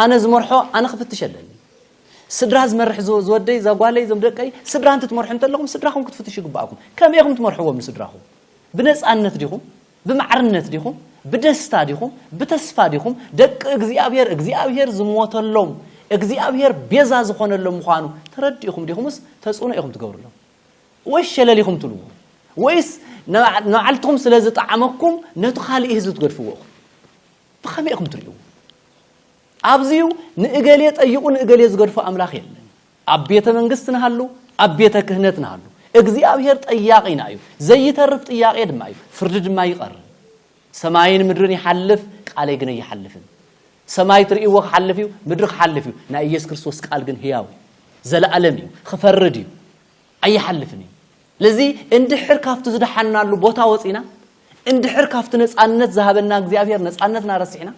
ኣነ ዝመርሖ ኣነ ክፍትሽ ኣለኒ ስድራ ዝመርሕ ዝወደይ ዛጓለይ ዞም ደቀይ ስድራ እንትትመርሑ እንተለኹም ስድራኹም ክትፍትሹ ይግባኣኩም ከመይ ኹም ትመርሕዎም ንስድራኹም ብነፃነት ዲኹም ብማዕርነት ዲኹም ብደስታ ዲኹም ብተስፋ ዲኹም ደቂ እግዚኣብሔር እግዚኣብሔር ዝሞተሎም እግዚኣብሔር ቤዛ ዝኾነሎም ምዃኑ ተረዲእኹም ዲኹምስ ተጽዕኖ ኢኹም ትገብርሎም ወይስ ሸለል ኢኹም ትልዎ ወይስ ንባዕልትኹም ስለ ዝጠዓመኩም ነቲ ካልእ ህዝቢ ትገድፍዎ ኢኹም ብኸመይ ኢኹም ትርእይዎ ኣብዚዩ ንእገሌ ጠይቑ ንእገሌ ዝገድፎ ኣምላኽ የለን ኣብ ቤተ መንግስት ንሃሉ ኣብ ቤተ ክህነት ንሃሉ እግዚኣብሔር ጠያቂና እዩ ዘይተርፍ ጥያቄ ድማ እዩ ፍርዲ ድማ ይቀርብ ሰማይን ምድርን ይሓልፍ ቃለይ ግን ኣይሓልፍን ሰማይ ትርእይዎ ክሓልፍ እዩ ምድሪ ክሓልፍ እዩ ናይ ኢየሱስ ክርስቶስ ቃል ግን ህያው እዩ ዘለኣለም እዩ ክፈርድ እዩ ኣይሓልፍን እዩ ስለዚ እንድሕር ካብቲ ዝደሓንናሉ ቦታ ወጺእና፣ እንድሕር ካብቲ ነጻነት ዝሃበና እግዚኣብሄር ነጻነትና ረሲዕና፣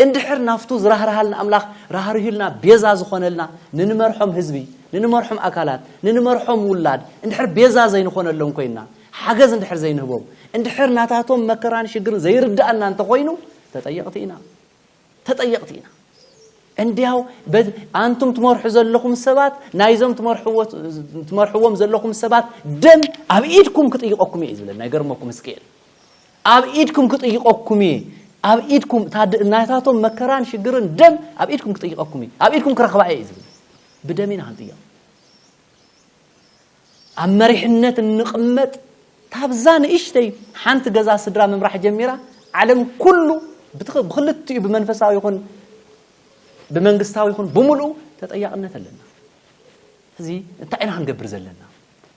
እንድሕር ናብቱ ዝራህርሃልና ኣምላኽ ራህሪሁልና ቤዛ ዝኾነልና ንንመርሖም ህዝቢ፣ ንንመርሖም ኣካላት፣ ንንመርሖም ውላድ እንድሕር ቤዛ ዘይንኾነሎም ኮይንና፣ ሓገዝ እንድሕር ዘይንህቦም፣ እንድሕር ናታቶም መከራን ሽግርን ዘይርድኣና እንተኾይኑ ተጠየቕቲ ኢና። ተጠየቕቲ ኢና። እንድያው በዚ ኣንቱም ትመርሑ ዘለኹም ሰባት ናይዞም ትመርሕዎ ትመርሕዎም ዘለኹም ሰባት ደም ኣብ ኢድኩም ክጥይቐኩም እየ ዝብለና። ይገርመኩም ህዝቅኤል ኣብ ኢድኩም ክጥይቐኩም እየ ኣብ ኢድኩም እታ ድ- ናታቶም መከራን ሽግርን ደም ኣብ ኢድኩም ክጥይቐኩም እየ ኣብ ኢድኩም ክረኽባ እየ እዩ ዝብል። ብደም ኢና ክንጥየቕ። ኣብ መሪሕነት እንቕመጥ ታብዛ ንእሽተይ ሓንቲ ገዛ ስድራ ምምራሕ ጀሚራ ዓለም ኩሉ ብኽልቲኡ ብመንፈሳዊ ይኹን ብመንግስታዊ ይኹን ብምልኡ ተጠያቕነት ኣለና እዚ እንታይ ኢና ክንገብር ዘለና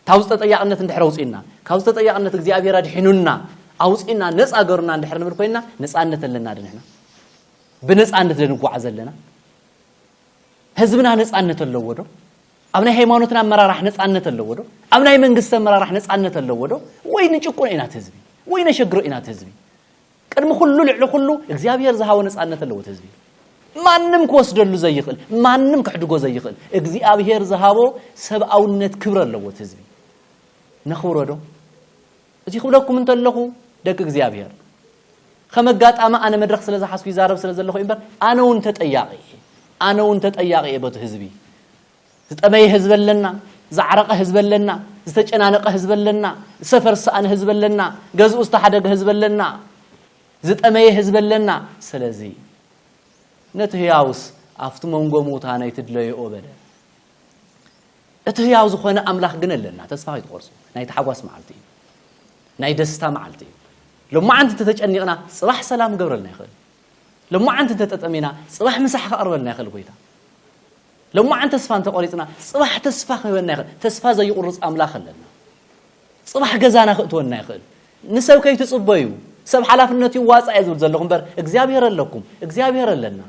ካብዚ ተጠያቕነት እንድሕር ኣውፅእና ካብዚ ተጠያቕነት እግዚኣብሔር ኣድሒኑና ኣውፅእና ነፃ ገሩና እንድሕር ንብል ኮይና ነፃነት ኣለና ድንሕና ብነፃነት ደንጓዓ ዘለና ህዝብና ነፃነት ኣለዎ ዶ ኣብ ናይ ሃይማኖትና ኣመራራሕ ነፃነት ኣለዎ ዶ? ኣብ ናይ መንግስቲ ኣመራራሕ ነፃነት ኣለዎ ዶ? ወይ ንጭቁኖ ኢና እቲ ህዝቢ? ወይ ነሸግሮ ኢና እቲ ህዝቢ? ቅድሚ ኩሉ ልዕሊ ኩሉ እግዚኣብሔር ዝሃቦ ነፃነት ኣለዎ እቲ ህዝቢ። ማንም ክወስደሉ ዘይኽእል፣ ማንም ክሕድጎ ዘይኽእል እግዚኣብሔር ዝሃቦ ሰብኣውነት ክብሪ ኣለዎ እቲ ህዝቢ። ነኽብሮ ዶ? እዚ ክብለኩም እንተለኹ ደቂ እግዚኣብሔር ከም ኣጋጣሚ ኣነ መድረኽ ስለ ዝሓዝኩ ይዛረብ ስለ ዘለኹ እዩ እምበር ኣነ እውን ተጠያቂ እየ ኣነ እውን ተጠያቂ እየ በቲ ህዝቢ ዝጠመየ ህዝቢ ኣለና ዝዓረቐ ህዝቢ ኣለና ዝተጨናነቐ ህዝቢ ኣለና ሰፈር ዝሰኣነ ህዝቢ ኣለና ገዝኡ ዝተሓደገ ህዝቢ ኣለና ዝጠመየ ህዝቢ ኣለና ስለዚ ነቲ ህያውስ ኣብቲ መንጎ ምውታ ናይ ትድለየኦ በለ እቲ ህያው ዝኾነ ኣምላኽ ግን ኣለና ተስፋ ከይትቆርጹ ናይ ታሕጓስ መዓልቲ እዩ ናይ ደስታ መዓልቲ እዩ ሎማዓንቲ ተተጨኒቕና ጽባሕ ሰላም ገብረልና ይኽእል ሎማዓንቲ ተጠጠሚና ጽባሕ ምሳሕ ከቕርበልና ይኽእል ጎይታ ሎማዓንቲ ተስፋ እንተቆሪጽና ጽባሕ ተስፋ ክህበና ይኽእል ተስፋ ዘይቁርጽ ኣምላኽ ኣለና ጽባሕ ገዛና ክእትወና ይኽእል ንሰብ ከይትጽበዩ ሰብ ሓላፍነት ይዋጻእ እየ ዝብል ዘለኹ እምበር እግዚኣብሄር ኣለኩም እግዚኣብሄር ኣለና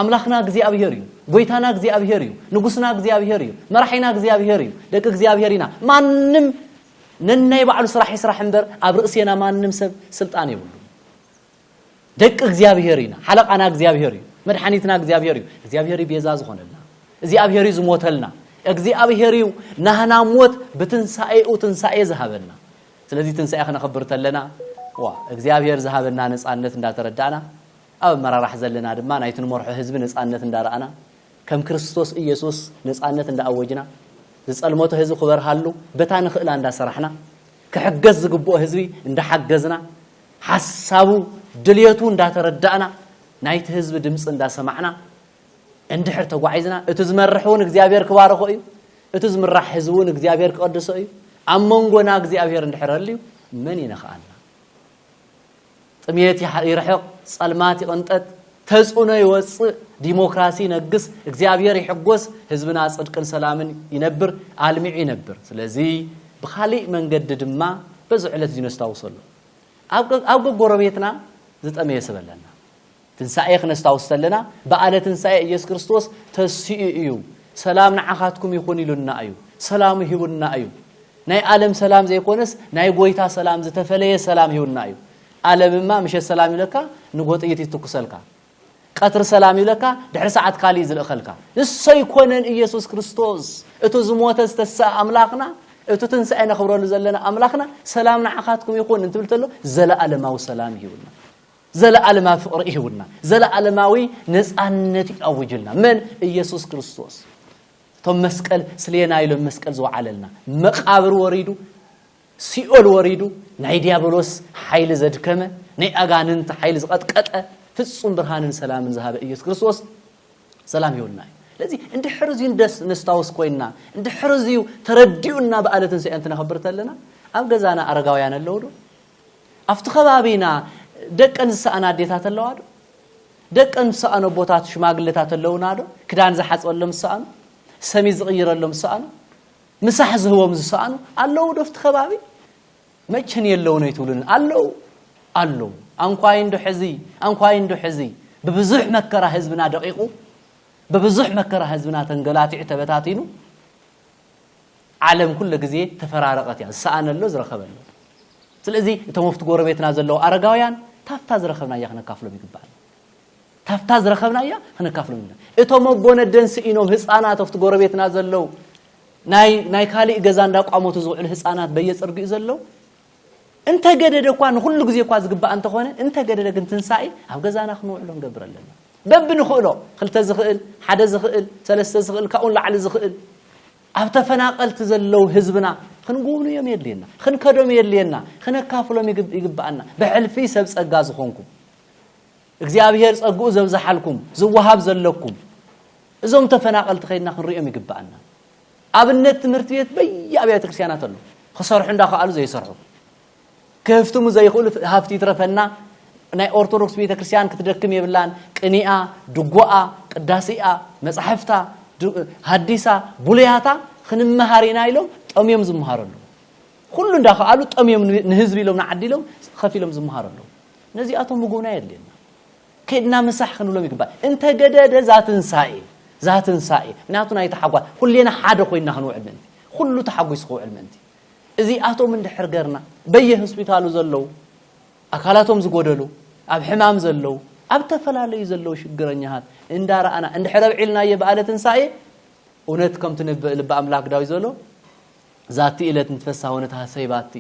ኣምላኽና እግዚኣብሄር እዩ። ጎይታና እግዚኣብሄር እዩ። ንጉስና እግዚኣብሄር እዩ። መራሒና እግዚኣብሄር እዩ። ደቂ እግዚኣብሄር ኢና። ማንም ነናይ ባዕሉ ስራሕ ይስራሕ እምበር ኣብ ርእሴና ማንም ሰብ ስልጣን የብሉን። ደቂ እግዚኣብሄር ኢና። ሓለቃና እግዚኣብሄር እዩ። መድሓኒትና እግዚኣብሄር እዩ። እግዚኣብሄር እዩ ቤዛ ዝኾነልና። እግዚኣብሄር እዩ ዝሞተልና። እግዚኣብሄር እዩ ናህና ሞት ብትንሳኤኡ ትንሳኤ ዝሃበና። ስለዚ ትንሳኤ ክነኽብር ተለና ዋ እግዚኣብሄር ዝሃበና ነፃነት እንዳተረዳእና ኣብ ኣመራራሕ ዘለና ድማ ናይቲ ንመርሖ ህዝቢ ነጻነት እንዳረኣና ከም ክርስቶስ ኢየሱስ ነጻነት እንዳኣወጅና ዝጸልመቶ ህዝቢ ክበርሃሉ በታ ንኽእላ እንዳሰራሕና ክሕገዝ ዝግብኦ ህዝቢ እንዳሓገዝና ሓሳቡ ድልየቱ እንዳተረዳእና ናይቲ ህዝቢ ድምጺ እንዳሰማዕና እንድሕር ተጓዒዝና እቲ ዝመርሕ እውን እግዚኣብሔር ክባርኾ እዩ እቲ ዝምራሕ ህዝቢ እውን እግዚኣብሔር ክቐድሶ እዩ ኣብ መንጎና እግዚኣብሔር እንድሕር ኣልዩ መን ይነኽኣና ጥምየት ይርሕቕ፣ ጸልማት ይቕንጠጥ፣ ተጽዕኖ ይወጽእ፣ ዲሞክራሲ ይነግስ፣ እግዚኣብሔር ይሕጎስ፣ ህዝብና ጽድቅን ሰላምን ይነብር፣ ኣልሚዑ ይነብር። ስለዚ ብኻሊእ መንገዲ ድማ በዚ ዕለት እዚ ነስታውሰሉ። ኣብ ኣብ ጎረቤትና ዝጠመየ ሰብ ኣለና። ትንሳኤ ክነስታውስ ተለና በኣለ ትንሳኤ ኢየሱስ ክርስቶስ ተሲኡ እዩ ሰላም ንዓኻትኩም ይኹን ኢሉና እዩ ሰላሙ ሂቡና እዩ ናይ ኣለም ሰላም ዘይኮነስ ናይ ጎይታ ሰላም ዝተፈለየ ሰላም ሂቡና እዩ ኣለምማ ምሸት ሰላም ይብለካ ንጎ ጥይት ይትኩሰልካ ቀትሪ ሰላም ይብለካ ድሕሪ ሰዓት ካልእ ዝልእኸልካ ንሶ ይኮነን ኢየሱስ ክርስቶስ እቲ ዝሞተ ዝተሰኣ ኣምላኽና እቲ ትንሳኤ ነኽብረሉ ዘለና ኣምላኽና ሰላም ንዓኻትኩም ይኹን እንትብል ተሎ ዘለኣለማዊ ሰላም ይህቡና ዘለኣለማዊ ፍቕሪ ይህቡና፣ ዘለኣለማዊ ነጻነት ይኣውጁልና። መን? ኢየሱስ ክርስቶስ። እቶም መስቀል ስሌና ኢሎም መስቀል ዝወዓለልና፣ መቃብር ወሪዱ፣ ሲኦል ወሪዱ፣ ናይ ዲያብሎስ ሓይሊ ዘድከመ፣ ናይ ኣጋንንቲ ሓይሊ ዝቐጥቀጠ፣ ፍጹም ብርሃንን ሰላምን ዝሃበ ኢየሱስ ክርስቶስ ሰላም ይሁንና እዩ። ስለዚ እንድሕር እዚዩ ደስ ነስታውስ ኮይንና እንድሕር እዚዩ ተረዲኡና በዓለ ትንሳኤ እንትነኽብር ተለና ኣብ ገዛና ኣረጋውያን ኣለዉ ዶ ኣብቲ ከባቢና ደቀን ዝሰኣና ኣዴታት ኣለዋ ዶ? ደቀን ዝሰኣኑ ኣቦታት ሽማግለታት ኣለውና ዶ? ክዳን ዝሓፅበሎም ዝሰኣኑ፣ ሰሚ ዝቕይረሎም ዝሰኣኑ፣ ምሳሕ ዝህቦም ዝሰኣኑ ኣለዉ ዶ ኣብቲ ከባቢ? መቸን የለውን ኣይትብሉን ኣለዉ ኣለዉ ኣንኳይ እንዶ ሕዚ ኣንኳይ እንዶ ሕዚ ብብዙሕ መከራ ህዝብና ደቂቑ ብብዙሕ መከራ ህዝብና ተንገላቲዑ ተበታቲኑ ዓለም ኩሉ ግዜ ተፈራረቐት እያ ዝሰኣነ ኣሎ ዝረኸበ ኣሎ ስለዚ እቶም ኣብቲ ጎረቤትና ዘለዉ ኣረጋውያን ታፍታ ዝረኸብናያ ክነካፍሎም ይግባእ ታፍታ ዝረኸብናያ ክነካፍሎም ይግባእ እቶም ኣቦ ነደን ስኢኖም ህፃናት ኣብቲ ጎረቤትና ዘለዉ ናይ ናይ ካሊእ ገዛ እንዳቋመቱ ዝውዕሉ ህፃናት በየፅርጊኡ ዘለዉ እንተገደደ እኳ ንኹሉ ግዜ እኳ ዝግባእ እንተኾነ እንተገደደ ግን ትንሳኤ ኣብ ገዛና ክንውዕሎ ንገብር ኣለና በቢ ንኽእሎ ክልተ ዝኽእል ሓደ ዝኽእል ሰለስተ ዝኽእል ካብኡ ንላዕሊ ዝኽእል ኣብ ተፈናቀልቲ ዘለው ህዝብና ክንጉብንዮም የድልየና ክንከዶም የድልየና ክነካፍሎም ይግባኣና ብሕልፊ ሰብ ጸጋ ዝኾንኩም እግዚኣብሔር ጸግኡ ዘብዝሓልኩም ዝወሃብ ዘለኩም እዞም ተፈናቀልቲ ከይድና ክንሪኦም ይግባኣና ኣብነት ትምህርቲ ቤት በየኣብያተ ክርስቲያናት ኣሎ ክሰርሑ እንዳኸኣሉ ዘይሰርሑ ክህፍትሙ ዘይኽእሉ ሃፍቲ ይትረፈና ናይ ኦርቶዶክስ ቤተ ክርስቲያን ክትደክም የብላን ቅኒኣ ድጎኣ ቅዳሴኣ መጻሕፍታ ሃዲሳ ቡሉያታ ክንመሃር ኢና ኢሎም ጠምዮም ዝመሃሩ ኣለዉ ኩሉ እንዳኸኣሉ ጠምዮም ንህዝቢ ኢሎም ንዓዲ ኢሎም ከፊሎም ዝመሃሩ ኣለዉ ነዚኣቶም ምጉብና የድልየና ከድና ምሳሕ ክንብሎም ይግባእ እንተገደደ ዛትንሳኤ ዛትንሳኤ ምክንያቱ ናይ ተሓጓስ ኩሌና ሓደ ኮይና ክንውዕል ምእንቲ ኩሉ ተሓጒሱ ክውዕል ምእንቲ እዚኣቶም እንድሕር ገርና በየ ሆስፒታሉ ዘለዉ ኣካላቶም ዝጎደሉ ኣብ ሕማም ዘለዉ ኣብ ተፈላለዩ ዘለዉ ሽግረኛሃት እንዳረኣና እንድሕር ኣብዒልናየ በኣለ ትንሳኤ እውነት ከምቲ ልቢ ኣምላክ ዳዊት ዘሎ ዛቲ እለት ንትፈሳ ወነትሃሰይባቲ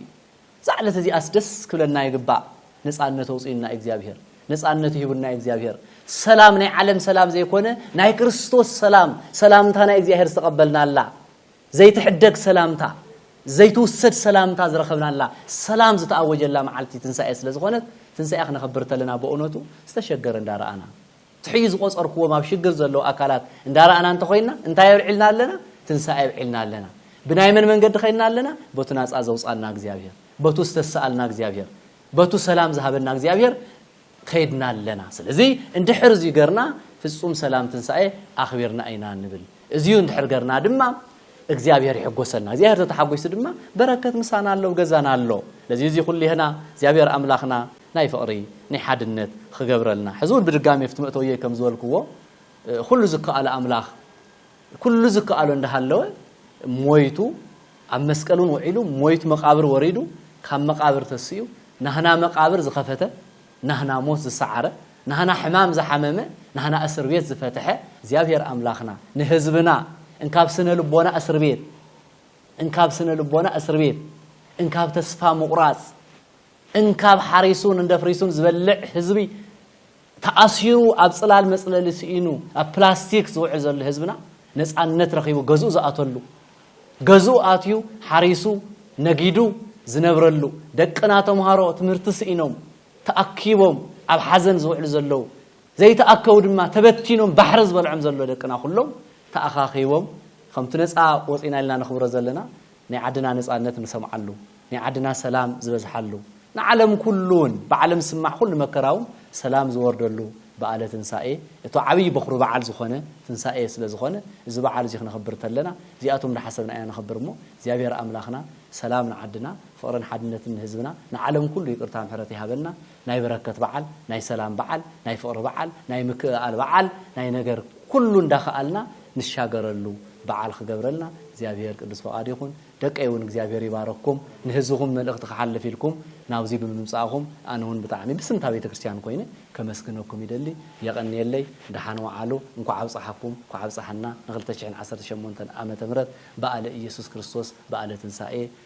እዛ ዕለት እዚኣስ ደስ ክብለና ይግባእ ነጻነት ኣውጽኡና እዩ እግዚኣብሄር ነጻነቱ ሂቡና እዩ እግዚኣብሄር ሰላም ናይ ዓለም ሰላም ዘይኮነ ናይ ክርስቶስ ሰላም ሰላምታ ናይ እግዚኣብሄር ዝተቐበልናላ ዘይትሕደግ ሰላምታ ዘይትውሰድ ሰላምታ ዝረኸብናላ ሰላም ዝተኣወጀላ መዓልቲ ትንሳኤ ስለ ዝኾነት ትንሳኤ ክነኸብር ተለና በእውነቱ ዝተሸገረ እንዳረኣና ትሕዩ ዝቆጸርክዎም ኣብ ሽግር ዘለዉ ኣካላት እንዳራእና እንተኮይና እንታይ ኣብዒልና ኣለና ትንሳኤ ኣብዒልና ኣለና ብናይ መን መንገዲ ከይድና ኣለና በቱ ናጻ ዘውጻና እግዚኣብሄር በቱ ዝተሳኣልና እግዚኣብሄር በቱ ሰላም ዝሃበና እግዚኣብሄር ከይድና ኣለና ስለዚ እንድሕር እዚ ገርና ፍጹም ሰላም ትንሳኤ ኣኽቢርና ኢና ንብል እዚዩ እንድሕር ገርና ድማ እግዚኣብሄር ይሕጎሰልና እግዚኣብሄር ተተሓጒሱ ድማ በረከት ምሳና ኣሎ ገዛና ኣሎ ለዚ እዚ ኩሉ ይህና እግዚኣብሄር ኣምላኽና ናይ ፍቕሪ፣ ናይ ሓድነት ኺገብረልና። ሕዚ እውን ብድጋሜ ኣብቲ መእተውየይ ከም ዝበልክዎ፣ ዅሉ ዚከኣሎ ኣምላኽ፣ ኵሉ ዚከኣሎ እንዳ ሃለወ፣ ሞይቱ፣ ኣብ መስቀል እውን ውዒሉ፣ ሞይቱ መቓብር ወሪዱ፣ ካብ መቓብር ተሲኡ፣ ናህና መቓብር ዝኸፈተ፣ ናህና ሞት ዝሰዓረ፣ ናህና ሕማም ዝሓመመ፣ ናህና እስር ቤት ዝፈትሐ፣ እግዚኣብሄር ኣምላኽና ንህዝብና እንካብ ስነ ልቦና እስር ቤት፣ እንካብ ስነ ልቦና እስር ቤት፣ እንካብ ተስፋ ምቝራጽ፣ እንካብ ሓሪሱን እንደፍሪሱን ዝበልዕ ህዝቢ ተኣሲሩ ኣብ ጽላል መጽለሊ ስኢኑ ኣብ ፕላስቲክ ዝውዕል ዘሎ ህዝብና ነጻነት ረኺቡ ገዝኡ ዝኣተሉ ገዝኡ ኣትዩ ሓሪሱ ነጊዱ ዝነብረሉ ደቅና ተምሃሮ ትምህርቲ ስኢኖም ተኣኪቦም ኣብ ሓዘን ዝውዕሉ ዘለዉ ዘይተኣከቡ ድማ ተበቲኖም ባሕሪ ዝበልዖም ዘሎ ደቅና ኩሎም ተኣኻኺቦም ከምቲ ነጻ ወጺና ኢልና ነኽብሮ ዘለና ናይ ዓድና ነጻነት ንሰምዓሉ፣ ናይ ዓድና ሰላም ዝበዝሓሉ፣ ንዓለም ኩሉውን ብዓለም ዝስማዕ ኩሉ መከራውን ሰላም ዝወርደሉ በኣለ ትንሳኤ እቶ ዓብይ በኹሪ በዓል ዝኾነ ትንሳኤ ስለ ዝኾነ እዚ በዓል እዚ ክነኽብር ተለና እዚኣቶም ዳሓሰብና ኢና ነኽብር እሞ እግዚኣብሔር ኣምላኽና ሰላም ንዓድና ፍቕርን ሓድነትን ንህዝብና ንዓለም ኩሉ ይቅርታ ምሕረት ይሃበና ናይ በረከት በዓል፣ ናይ ሰላም በዓል፣ ናይ ፍቕሪ በዓል፣ ናይ ምክእኣል በዓል፣ ናይ ነገር ኩሉ እንዳኸኣልና ንሻገረሉ በዓል ክገብረልና እግዚኣብሄር ቅዱስ ፈቓዱ ይኹን። ደቀይ እውን እግዚኣብሄር ይባርኽኩም። ንህዝብኹም መልእኽቲ ክሓልፍ ኢልኩም ናብዙይ ብምምፃእኹም ኣነ እውን ብጣዕሚ ብስም እታ ቤተክርስትያን ኮይነ ከመስግነኩም ይደሊ። የቐንየለይ። ደሓን ወዓሉ። እንኳዕ ኣብፀሓኩም፣ እንኳዕ ኣብፀሐና ን ክልተ ሽሕን ዓሰርተ ሸሞንተን ዓመተ ምህረት በኣለ ኢየሱስ ክርስቶስ በኣለ ትንሳኤ።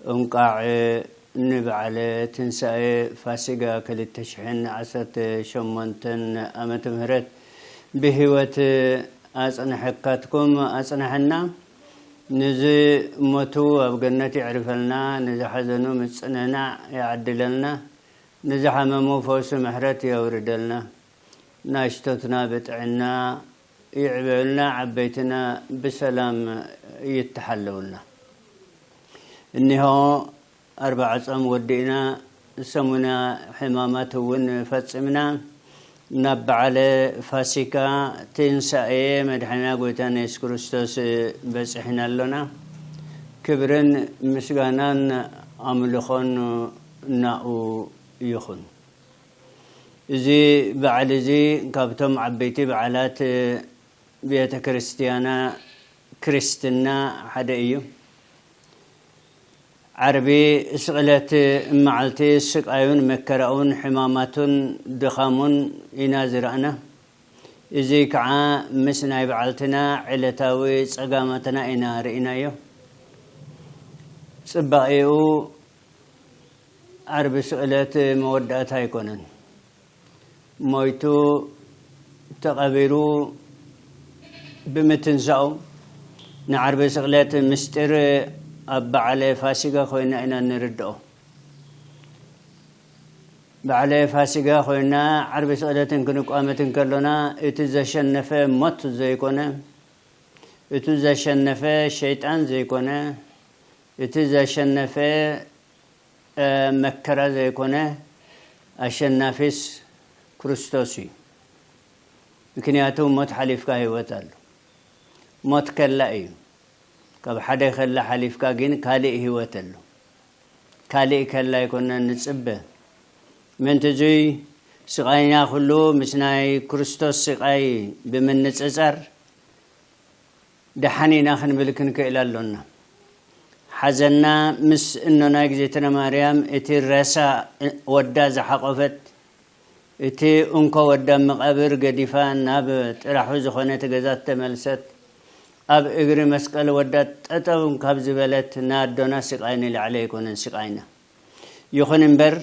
እንቛዕ ንበዓለ ትንሳኤ ፋሲጋ ክልተ ሽሕን ዓሰርተ ሸሞንተን ዓመተ ምህረት ብህይወት ኣጽነሐካትኩም ኣጽነሐና። ንዝሞቱ ኣብ ገነት የዕርፈልና፣ ንዝሓዘኑ ምጽንናዕ ይዓድለልና፣ ንዝሓመሙ ፈውሲ ምሕረት የውርደልና። ናሽቶትና ብጥዕና ይዕበዩልና ዓበይትና ብሰላም ይተሓለውልና እኒሆ ኣርባዓ ጾም ወዲእና ሰሙነ ሕማማት እውን ፈጺምና ናብ በዓለ ፋሲካ ትንሳኤ መድሓኒና ጎይታና የሱስ ክርስቶስ በጺሕና ኣሎና ክብርን ምስጋናን ኣምልኾን ናኡ ይኹን እዚ በዓል እዚ ካብቶም ዓበይቲ በዓላት ቤተ ክርስቲያና ክርስትና ሓደ እዩ። ዓርቢ ስቕለት መዓልቲ ስቃዩን መከራኡን ሕማማቱን ድኻሙን ኢና ዝረኣና። እዚ ከዓ ምስ ናይ በዓልትና ዕለታዊ ፀጋማትና ኢና ርኢናዮ። ፅባቄኡ ዓርቢ ስቅለት መወዳእታ ኣይኮነን ሞይቱ ተቀቢሩ ብምትንሳኡ ንዓርቢ ስቅለት ምስጢር ኣብ በዓለ ፋሲጋ ኮይና ኢና እንርድኦ በዓለ ፋሲጋ ኮይና ዓርቢ ስቅለትን ክንቋመትን ከሎና እቲ ዘሸነፈ ሞት ዘይኮነ እቲ ዘሸነፈ ሸይጣን ዘይኮነ እቲ ዘሸነፈ መከራ ዘይኮነ ኣሸናፊስ ክርስቶስ እዩ ምክንያቱ ሞት ሓሊፍካ ህይወት ኣሎ ሞት ከላ እዩ ካብ ሓደ ከላ ሓሊፍካ ግን ካልእ ህይወት ኣሎ ካልእ ከላ ኣይኮነን ንጽበ ምእንቲ እዙይ ስቓይና ኩሉ ምስ ናይ ክርስቶስ ስቓይ ብምንጽጻር ደሓን ኢና ክንብል ክንክእል ኣሎና። ሓዘና ምስ እኖና እግዝእትነ ማርያም እቲ ረሳ ወዳ ዝሓቆፈት እቲ እንኮ ወዳ ኣብ መቃብር ገዲፋ ናብ ጥራሑ ዝኮነት ገዛ ዝተመልሰት ኣብ እግሪ መስቀል ወዳ ጠጠው ካብ ዝበለት ን ኣዶና ስቃይ ንላዕሊ ኣይኮነን ስቃይና ይኩን እምበር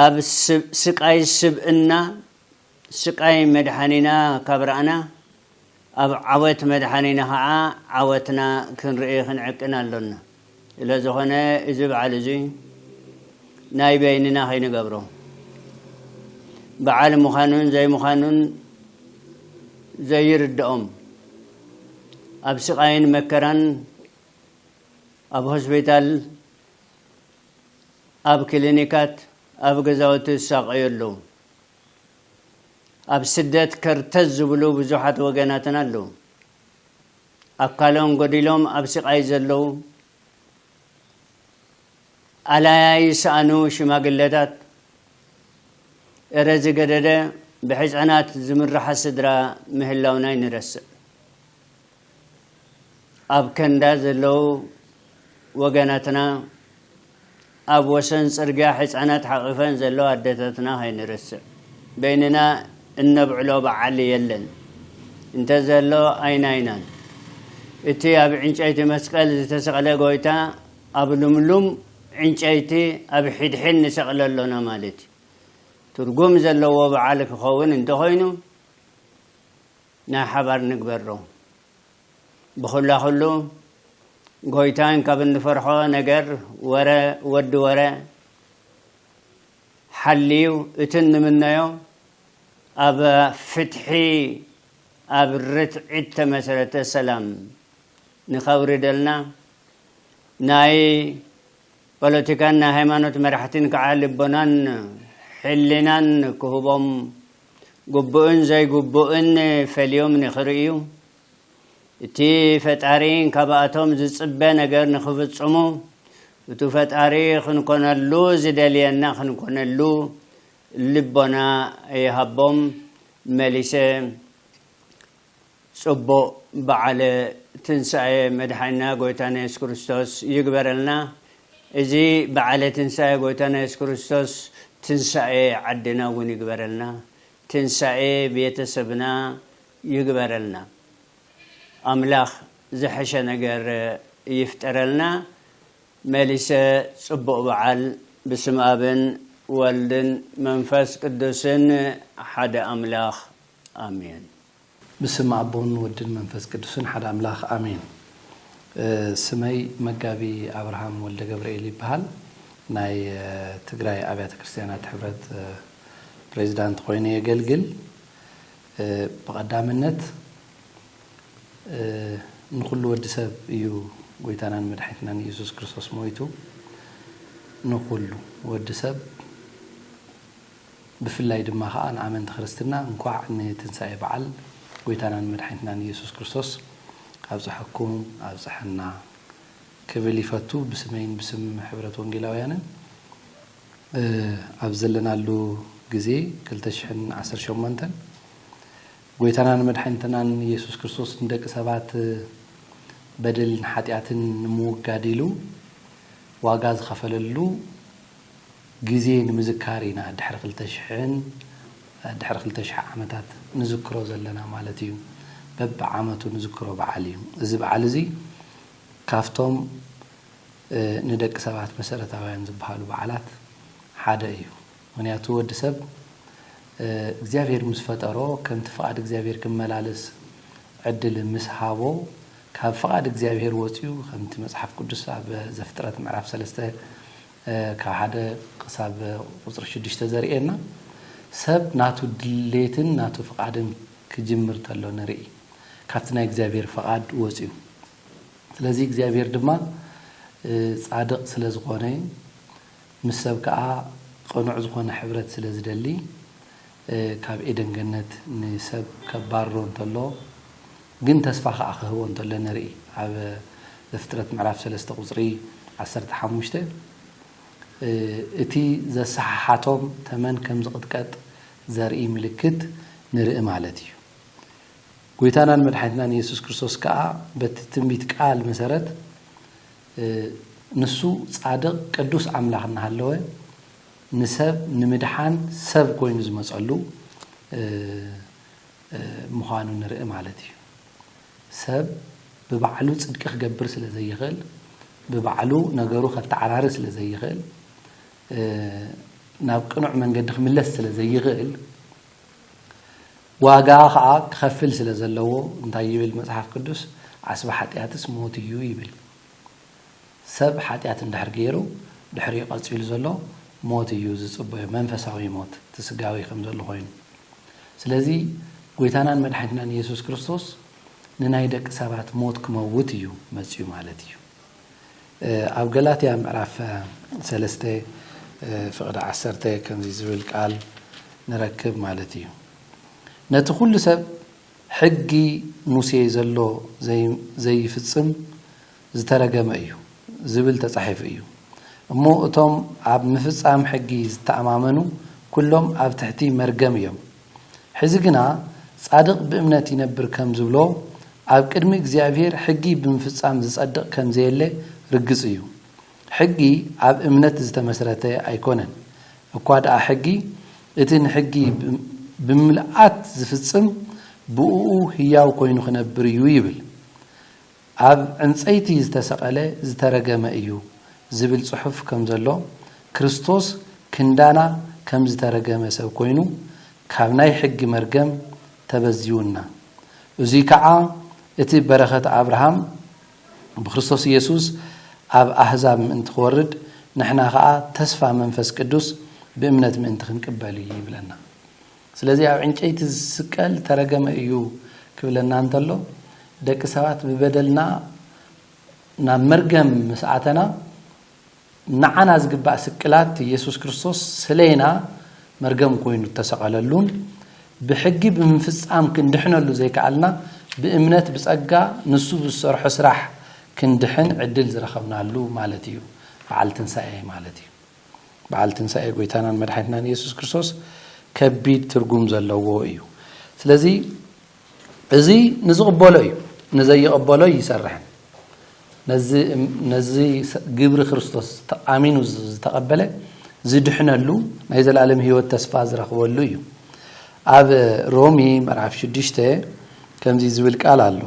ኣብ ስቃይ ስብእና ስቃይ መድሓኒና ካብ ረኣና ኣብ ዓወት መድሓኒና ኸዓ ዓወትና ክንርኢ ክንዕቅን ኣሎና። ስለዝኾነ እዚ በዓል እዙይ ናይ በይንና ከይንገብሮ በዓል ምዃኑን ዘይምዃኑን ዘይርደኦም ኣብ ስቃይን መከራን ኣብ ሆስፒታል ኣብ ክሊኒካት ኣብ ገዛውቲ ዝሳቀዩ ኣለዉ። ኣብ ስደት ከርተት ዝብሉ ብዙሓት ወገናትና ኣለዉ። ኣካሎም ጎዲሎም ኣብ ስቓይ ዘለዉ፣ ኣላያ ይሰኣኑ ሽማግለታት፣ እረ ዝገደደ ብሕጸናት ዝምርሓ ስድራ ምህላውና ኣይንረስዕ። ኣብ ከንዳ ዘለው ወገናትና ኣብ ወሰን ጽርግያ ሕጻናት ሓቒፈን ዘለዋ ኣደታትና ከይንረስዕ። በይንና እነብዕሎ በዓል የለን። እንተዘሎ ኣይናይናን። እቲ ኣብ ዕንጨይቲ መስቀል ዝተሰቕለ ጎይታ ኣብ ልምሉም ዕንጨይቲ ኣብ ሒድሒድ ንሰቕሎ ኣሎና ማለት እዩ። ትርጉም ዘለዎ በዓል ክኸውን እንተኾይኑ፣ ናይ ሓባር ንግበሮ ብኹላኹሉ ጎይታን ካብ እንፈርሖ ነገር ወረ ወዲ ወረ ሓልዩ እቲ ንምነዮ ኣብ ፍትሒ ኣብ ርትዒት ተመሰረተ ሰላም ንኸውርደልና ናይ ፖለቲካን ናይ ሃይማኖት መራሕቲን ከዓ ልቦናን ሕሊናን ክህቦም ግቡእን ዘይግቡእን ፈልዮም ንኽርእዩ፣ እቲ ፈጣሪ ካብኣቶም ዝጽበ ነገር ንኽፍጽሙ፣ እቱ ፈጣሪ ኽንኮነሉ ዝደልየና ኽንኮነሉ ልቦና ይሃቦም። መሊሰ ጽቡቅ በዓለ ትንሳኤ መድሓኒና ጎይታና የሱስ ክርስቶስ ይግበረልና። እዚ በዓለ ትንሳኤ ጎይታና የሱስ ክርስቶስ ትንሳኤ ዓድና እውን ይግበረልና። ትንሳኤ ቤተሰብና ይግበረልና። ኣምላኽ ዝሐሸ ነገር ይፍጠረልና። መሊሰ ጽቡቅ በዓል ብስም ኣብን ወልድን መንፈስ ቅዱስን ሓደ ኣምላኽ ኣሜን ብስም
ኣቦን ወድን መንፈስ ቅዱስን ሓደ ኣምላኽ ኣሜን። ስመይ መጋቢ ኣብርሃም ወልደገብርኤል ይበሃል። ናይ ትግራይ ኣብያተ ክርስትያናት ሕብረት ፕሬዚዳንት ኾይነ የገልግል። ብቐዳምነት ንኹሉ ወዲ ሰብ እዩ ጎይታናን መድሓኒትናን ኢየሱስ ክርስቶስ ሞይቱ ንኹሉ ወዲ ሰብ ብፍላይ ድማ ከኣ ንኣመንቲ ክርስትና እንኳዕ ንትንሳኤ በዓል ጎይታናን መድሓኒትናን ኢየሱስ ክርስቶስ ኣብፀሐኩም ኣብፀሐና ክብል ይፈቱ ብስመይን ብስም ሕብረት ወንጌላውያንን ኣብ ዘለናሉ ግዜ ክልተ ሽሕን ዓሰርተ ሸሞንተን ጎይታናን መድሓኒትናን ኢየሱስ ክርስቶስ ንደቂ ሰባት በደልን ሓጢኣትን ንምውጋድ ኢሉ ዋጋ ዝኸፈለሉ ግዜ ንምዝካር ኢና ድሕሪ ክልተ ሽሕን ድሕሪ ክልተ ሽሕ ዓመታት ንዝክሮ ዘለና ማለት እዩ። በቢ ዓመቱ ንዝክሮ በዓል እዩ። እዚ በዓል እዚ ካብቶም ንደቂ ሰባት መሰረታውያን ዝበሃሉ በዓላት ሓደ እዩ። ምኽንያቱ ወዲ ሰብ እግዚኣብሄር ምስ ፈጠሮ ከምቲ ፍቓድ እግዚኣብሄር ክመላለስ ዕድል ምስ ሃቦ ካብ ፍቓድ እግዚኣብሄር ወጺኡ ከምቲ መጽሓፍ ቅዱስ ኣብ ዘፍጥረት ምዕራፍ ሰለስተ ካብ ሓደ ክሳብ ቁፅሪ ሽዱሽተ ዘርእየና ሰብ ናቱ ድሌትን ናቱ ፍቃድን ክጅምር ተሎ ንርኢ ካብቲ ናይ እግዚኣብሔር ፍቃድ ወፅዩ ስለዚ እግዚኣብሔር ድማ ፃድቅ ስለ ዝኮነ ምስ ሰብ ከዓ ቅኑዕ ዝኮነ ሕብረት ስለ ዝደሊ ካብ ኤደን ገነት ንሰብ ከባርሮ እንተሎ ግን ተስፋ ከኣ ክህቦ እንተሎ ንርኢ ኣብ ዘፍጥረት ምዕራፍ ሰለስተ ቁጽሪ ዓሰርተ ሓሙሽተ እቲ ዘሰሓሓቶም ተመን ከም ዝቕጥቀጥ ዘርኢ ምልክት ንርኢ ማለት እዩ። ጎይታናን መድሓኒትናን ኢየሱስ ክርስቶስ ከኣ በቲ ትንቢት ቃል መሰረት ንሱ ጻድቕ ቅዱስ ኣምላኽ እናሃለወ ንሰብ ንምድሓን ሰብ ኮይኑ ዝመጸሉ ምዃኑ ንርኢ ማለት እዩ። ሰብ ብባዕሉ ጽድቂ ክገብር ስለ ዘይኽእል፣ ብባዕሉ ነገሩ ከተዓራሪ ስለ ዘይኽእል፣ ናብ ቅኑዕ መንገዲ ክምለስ ስለ ዘይኽእል፣ ዋጋ ኸኣ ክኸፍል ስለ ዘለዎ እንታይ ይብል መጽሓፍ ቅዱስ? ዓስቢ ሓጢኣትስ ሞት እዩ ይብል። ሰብ ሓጢኣት እንድሕር ገይሩ ድሕሪኡ ቀጺሉ ዘሎ ሞት እዩ ዝጽበዮ መንፈሳዊ ሞት እቲ ስጋዊ ከም ዘሎ ኮይኑ ስለዚ ጎይታናን መድሓኒትናን ኢየሱስ ክርስቶስ ንናይ ደቂ ሰባት ሞት ክመውት እዩ መጽዩ ማለት እዩ ኣብ ገላትያ ምዕራፍ ሰለስተ ፍቕዲ ዓሰርተ ከምዚ ዝብል ቃል ንረክብ ማለት እዩ ነቲ ኩሉ ሰብ ሕጊ ሙሴ ዘሎ ዘይፍጽም ዝተረገመ እዩ ዝብል ተጻሒፉ እዩ እሞ እቶም ኣብ ምፍጻም ሕጊ ዝተኣማመኑ ኩሎም ኣብ ትሕቲ መርገም እዮም ሕዚ ግና ጻድቅ ብእምነት ይነብር ከም ዝብሎ ኣብ ቅድሚ እግዚኣብሔር ሕጊ ብምፍጻም ዝጸድቅ ከም ዘየለ ርግጽ እዩ ሕጊ ኣብ እምነት ዝተመስረተ ኣይኮነን እኳ ድኣ ሕጊ እቲ ንሕጊ ብምልኣት ዝፍጽም ብእኡ ህያው ኮይኑ ክነብር እዩ ይብል ኣብ ዕንጸይቲ ዝተሰቐለ ዝተረገመ እዩ ዝብል ጽሑፍ ከም ዘሎ፣ ክርስቶስ ክንዳና ከም ዝተረገመ ሰብ ኮይኑ ካብ ናይ ሕጊ መርገም ተበዚውና። እዙይ ከዓ እቲ በረኸት ኣብርሃም ብክርስቶስ ኢየሱስ ኣብ ኣህዛብ ምእንቲ ክወርድ ንሕና ከዓ ተስፋ መንፈስ ቅዱስ ብእምነት ምእንቲ ክንቅበል እዩ ይብለና። ስለዚ ኣብ ዕንጨይቲ ዝስቀል ዝተረገመ እዩ ክብለና እንተሎ ደቂ ሰባት ብበደልና ናብ መርገም ምስ ኣተና ንዓና ዝግባእ ስቅላት ኢየሱስ ክርስቶስ ስለና መርገም ኮይኑ እተሰቐለሉን ብሕጊ ብምፍጻም ክንድሕነሉ ዘይከኣልና ብእምነት ብጸጋ ንሱ ብዝሰርሖ ስራሕ ክንድሕን ዕድል ዝረኸብናሉ ማለት እዩ በዓል ትንሳኤ ማለት እዩ። በዓል ትንሳኤ ጎይታናን መድሓኒትናን ኢየሱስ ክርስቶስ ከቢድ ትርጉም ዘለዎ እዩ ስለዚ እዚ ንዝቕበሎ እዩ ንዘይቕበሎ ይሰርሕን ነዚ ግብሪ ክርስቶስ ተኣሚኑ ዝተቐበለ ዝድሕነሉ ናይ ዘላለም ህይወት ተስፋ ዝረኽበሉ እዩ ኣብ ሮሚ መርዓፍ ሽዱሽተ ከምዚ ዝብል ቃል ኣሎ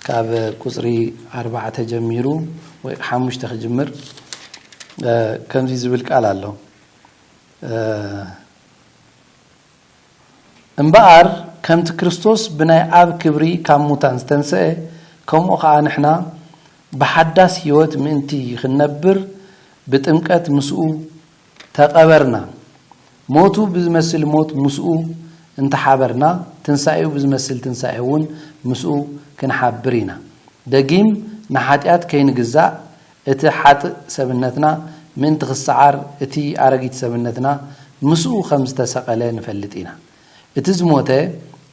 ካብ ቁፅሪ ኣርባዕተ ጀሚሩ ወይ ሓሙሽተ ክጅምር ከምዚ ዝብል ቃል ኣሎ እምበኣር ከምቲ ክርስቶስ ብናይ ኣብ ክብሪ ካብ ሙታን ዝተንስአ ከምኡ ከዓ ንሕና ብሓዳስ ህይወት ምእንቲ ክንነብር ብጥምቀት ምስኡ ተቐበርና፣ ሞቱ ብዝመስል ሞት ምስኡ እንተሓበርና፣ ትንሳኤኡ ብዝመስል ትንሳኤ እውን ምስኡ ክንሓብር ኢና። ደጊም ንሓጢኣት ከይንግዛእ፣ እቲ ሓጥእ ሰብነትና ምእንቲ ክሰዓር፣ እቲ ኣረጊት ሰብነትና ምስኡ ከም ዝተሰቐለ ንፈልጥ ኢና። እቲ ዝሞተ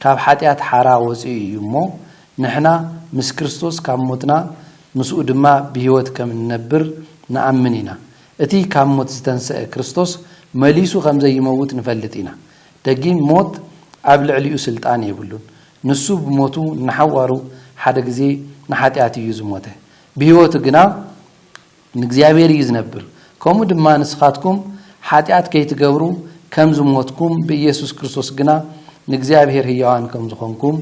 ካብ ሓጢኣት ሓራ ወጺኡ እዩ እሞ፣ ንሕና ምስ ክርስቶስ ካብ ሞትና ምስኡ ድማ ብህይወት ከም እንነብር ንኣምን ኢና። እቲ ካብ ሞት ዝተንስአ ክርስቶስ መሊሱ ከም ዘይመውት ንፈልጥ ኢና። ደጊም ሞት ኣብ ልዕሊኡ ስልጣን የብሉን። ንሱ ብሞቱ ንሓዋሩ ሓደ ግዜ ንሓጢኣት እዩ ዝሞተ። ብህይወቱ ግና፣ ንእግዚኣብሔር እዩ ዝነብር። ከምኡ ድማ ንስኻትኩም ኃጢኣት ከይትገብሩ ከም ዝሞትኩም ብኢየሱስ ክርስቶስ ግና ንእግዚኣብሔር ሕያዋን ከም ዝኾንኩም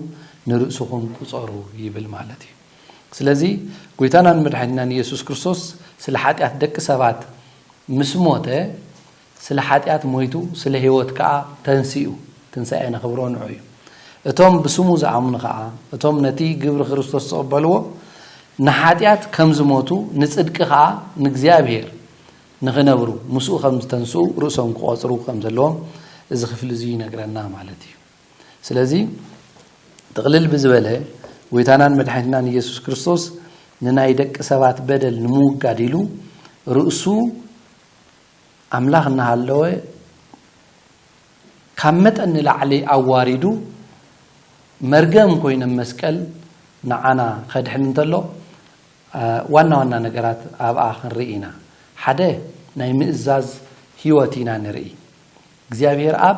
ንርእስኹም ቍጸሩ ይብል ማለት እዩ። ስለዚ ጐይታናን መድኃኒትናን ኢየሱስ ክርስቶስ ስለ ኃጢኣት ደቂ ሰባት ምስ ሞተ፣ ስለ ሓጢኣት ሞይቱ ስለ ህይወት ከኣ ተንሲኡ። ትንሳኤ ነኽብሮ ንዑ እዩ። እቶም ብስሙ ዝኣምኑ ከኣ እቶም ነቲ ግብሪ ክርስቶስ ዝቕበልዎ ንሓጢኣት ከም ዝሞቱ ንጽድቂ ከኣ ንእግዚኣብሔር ንኽነብሩ ምስኡ ከም ዝተንስኡ ርእሶም ክቖጽሩ ከም ዘለዎም እዚ ክፍሊ እዚ ይነግረና ማለት እዩ። ስለዚ ጥቕልል ብዝበለ ጎይታናን መድሓኒትናን ኢየሱስ ክርስቶስ ንናይ ደቂ ሰባት በደል ንምውጋድ ኢሉ ርእሱ ኣምላኽ እናሃለወ ካብ መጠን ንላዕሊ ኣዋሪዱ መርገም ኮይነ መስቀል ንዓና ከድሕን እንተሎ ዋና ዋና ነገራት ኣብኣ ክንርኢ ኢና። ሓደ ናይ ምእዛዝ ህይወት ኢና ንርኢ እግዚኣብሔር ኣብ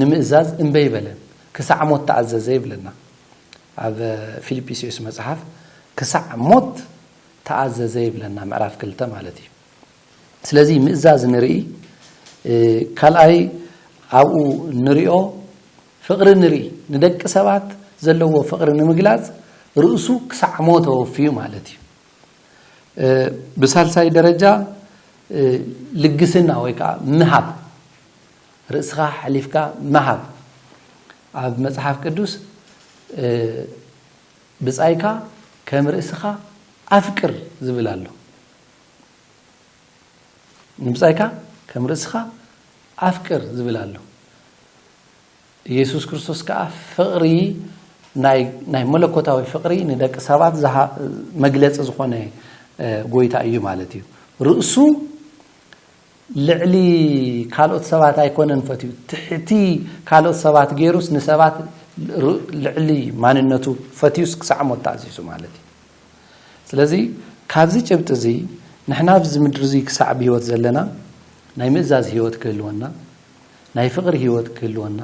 ንምእዛዝ እምበ ኣይበለን፣ ክሳዕ ሞት ተኣዘዘ ይብለና ኣብ ፊልጲስዩስ መጽሓፍ፣ ክሳዕ ሞት ተኣዘዘ ይብለና ምዕራፍ ክልተ ማለት እዩ። ስለዚ ምእዛዝ ንርኢ፣ ካልኣይ ኣብኡ ንሪኦ ፍቕሪ ንርኢ፣ ንደቂ ሰባት ዘለዎ ፍቕሪ ንምግላጽ ርእሱ ክሳዕ ሞት ኣወፍዩ ማለት እዩ። ብሳልሳይ ደረጃ ልግስና ወይ ከዓ ምሃብ ርእስኻ ኣሕሊፍካ ምሃብ ኣብ መጽሓፍ ቅዱስ ብጻይካ ከም ርእስኻ ኣፍቅር ዝብል ኣሎ ንብጻይካ ከም ርእስኻ ኣፍቅር ዝብል ኣሎ ኢየሱስ ክርስቶስ ከዓ ፍቕሪ ናይ መለኮታዊ ፍቕሪ ንደቂ ሰባት መግለፂ ዝኾነ ጎይታ እዩ ማለት እዩ ርእሱ ልዕሊ ካልኦት ሰባት ኣይኮነን ፈትዩ ትሕቲ ካልኦት ሰባት ገይሩስ ንሰባት ልዕሊ ማንነቱ ፈትዩስ ክሳዕ ሞት ተኣዚዙ ማለት እዩ። ስለዚ ካብዚ ጭብጢ እዚ ንሕና ኣብዚ ምድሪ እዚ ክሳዕ ብህይወት ዘለና ናይ ምእዛዝ ህይወት ክህልወና፣ ናይ ፍቕሪ ህይወት ክህልወና፣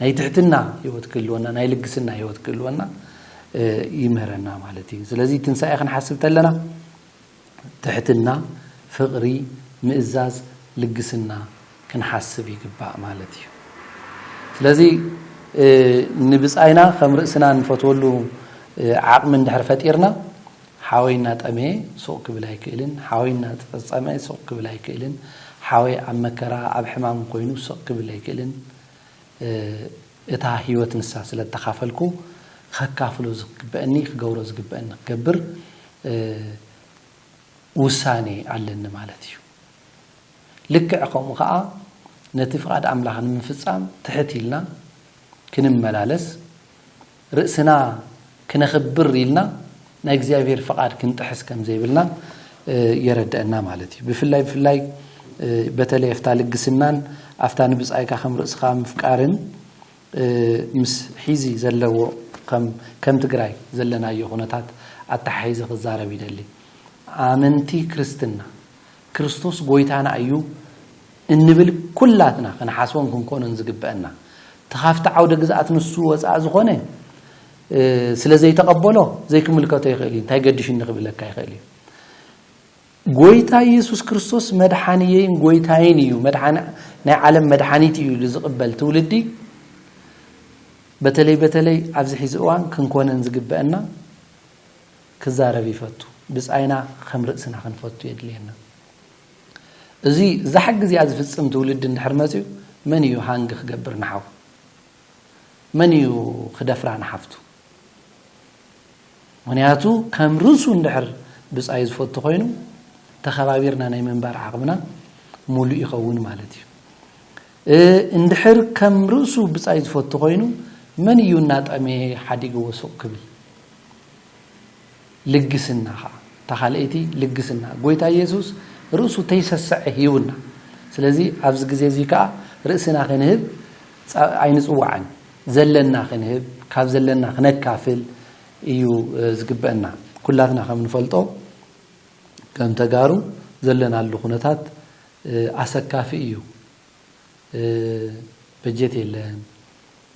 ናይ ትሕትና ህይወት ክህልወና፣ ናይ ልግስና ህይወት ክህልወና ይምህረና ማለት እዩ። ስለዚ ትንሳኤ ክንሓስብ ተለና ትሕትና፣ ፍቕሪ፣ ምእዛዝ፣ ልግስና ክንሓስብ ይግባእ ማለት እዩ። ስለዚ ንብጻይና ከም ርእስና እንፈትወሉ ዓቕሚ እንድሕር ፈጢርና ሓወይ እናጠመየ ሱቕ ክብል ኣይክእልን፣ ሓወይ እናጸጸመ ሱቕ ክብል ኣይክእልን፣ ሓወይ ኣብ መከራ ኣብ ሕማም ኮይኑ ሱቕ ክብል ኣይክእልን እታ ሕይወት ንሳ ስለእተኻፈልኩ ኸካፍሎ ዝግበእኒ ክገብሮ ዝግበእኒ ክገብር ውሳኔ ኣለኒ ማለት እዩ። ልክዕ ከምኡ ኸኣ ነቲ ፍቓድ ኣምላኽ ንምፍጻም ትሕት ኢልና ክንመላለስ ርእስና ክነኽብር ኢልና ናይ እግዚኣብሔር ፍቓድ ክንጥሕስ ከም ዘይብልና የረደእና ማለት እዩ። ብፍላይ ብፍላይ በተለይ ኣፍታ ልግስናን ኣፍታ ንብጻይካ ከም ርእስኻ ምፍቃርን ምስ ሒዚ ዘለዎ ከም ትግራይ ዘለናዮ ኩነታት ኣተሓሒዘ ክዛረብ ይደሊ። ኣመንቲ ክርስትና ክርስቶስ ጎይታና እዩ እንብል ኩላትና ክንሓስቦን ክንኮኖን ዝግበእና እቲ ካብቲ ዓውደ ግዝኣት ንሱ ወፃኢ ዝኾነ ስለ ዘይተቐበሎ ዘይክምልከቶ ይኽእል እዩ እንታይ ገዲሽኒ ክብለካ ይኽእል እዩ ጎይታ ኢየሱስ ክርስቶስ መድሓንየይን ጎይታይን እዩ ናይ ዓለም መድሓኒት እዩ ኢሉ ዝቕበል ትውልዲ በተለይ በተለይ ኣብዚ ሒዚ እዋን ክንኮነን ዝግበአና ክዛረብ ይፈቱ። ብጻይና ኸም ርእስና ኽንፈቱ የድልየና። እዚ እዛ ሕጊ እዚኣ ዝፍጽም ትውልዲ እንድሕር መጺኡ መን እዩ ሃንግ ክገብር ንሓው? መን እዩ ክደፍራ ንሓፍቱ? ምክንያቱ ከም ርእሱ እንድሕር ብጻይ ዝፈቱ ኮይኑ ተኸባቢርና ናይ ምንባር ዓቕምና ሙሉእ ይኸውን ማለት እዩ። እንድሕር ከም ርእሱ ብጻይ ዝፈቱ ኮይኑ መን እዩ እናጠመየ ሓዲግዎ ሱቕ ክብል? ልግስና ኸኣ እታ ኻልኣይቲ ልግስና ጎይታ የሱስ ርእሱ ተይሰሰዐ ሂቡና ስለዚ ኣብዚ ግዜ እዚ ከኣ ርእስና ክንህብ ኣይንጽዋዕን ዘለና ክንህብ ካብ ዘለና ክነካፍል እዩ ዝግበእና ኩላትና ከም ንፈልጦ ከም ተጋሩ ዘለናሉ ኩነታት ኣሰካፊ እዩ በጀት የለን፣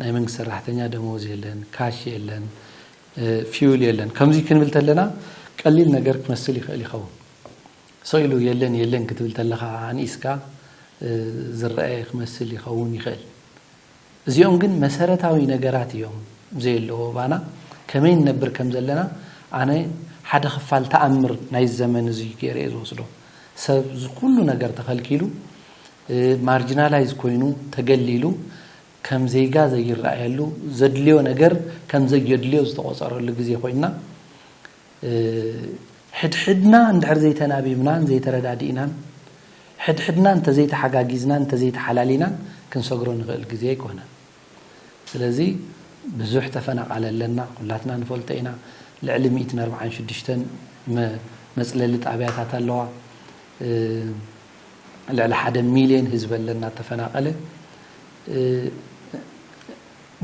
ናይ መንግስቲ ሰራሕተኛ ደመወዝ የለን፣ ካሽ የለን፣ ፊውል የለን ከምዚ ክንብል ተለና ቀሊል ነገር ክመስል ይኽእል ይኸውን ሰው ኢሉ የለን የለን ክትብል ተለኻ ኣንኢስካ ዝረኣየ ክመስል ይኸውን ይኽእል እዚኦም ግን መሰረታዊ ነገራት እዮም ዘየለዉ ኣባና ከመይ ንነብር ከም ዘለና ኣነ ሓደ ክፋል ተኣምር ናይዚ ዘመን እዙይ ገይረ እየ ዝወስዶ ሰብ ዝኩሉ ነገር ተኸልኪሉ ማርጅናላይዝ ኮይኑ ተገሊሉ ከም ዜጋ ዘይረኣየሉ ዘድልዮ ነገር ከም ዘየድልዮ ዝተቆፀረሉ ግዜ ኮይንና ሕድሕድና እንድሕር ዘይተናቢብናን ዘይተረዳዲእናን፣ ሕድሕድና እንተዘይተሓጋጊዝናን እንተዘይተሓላሊናን ክንሰግሮ ንኽእል ግዜ ኣይኮነን። ስለዚ ብዙሕ ተፈናቓሊ ኣለና፣ ኩላትና ንፈልጦ ኢና። ልዕሊ ሚእትን ኣርብዓን ሽዱሽተን መጽለሊ ጣብያታት ኣለዋ። ልዕሊ ሓደ ሚልዮን ህዝቢ ኣለና እተፈናቐለ።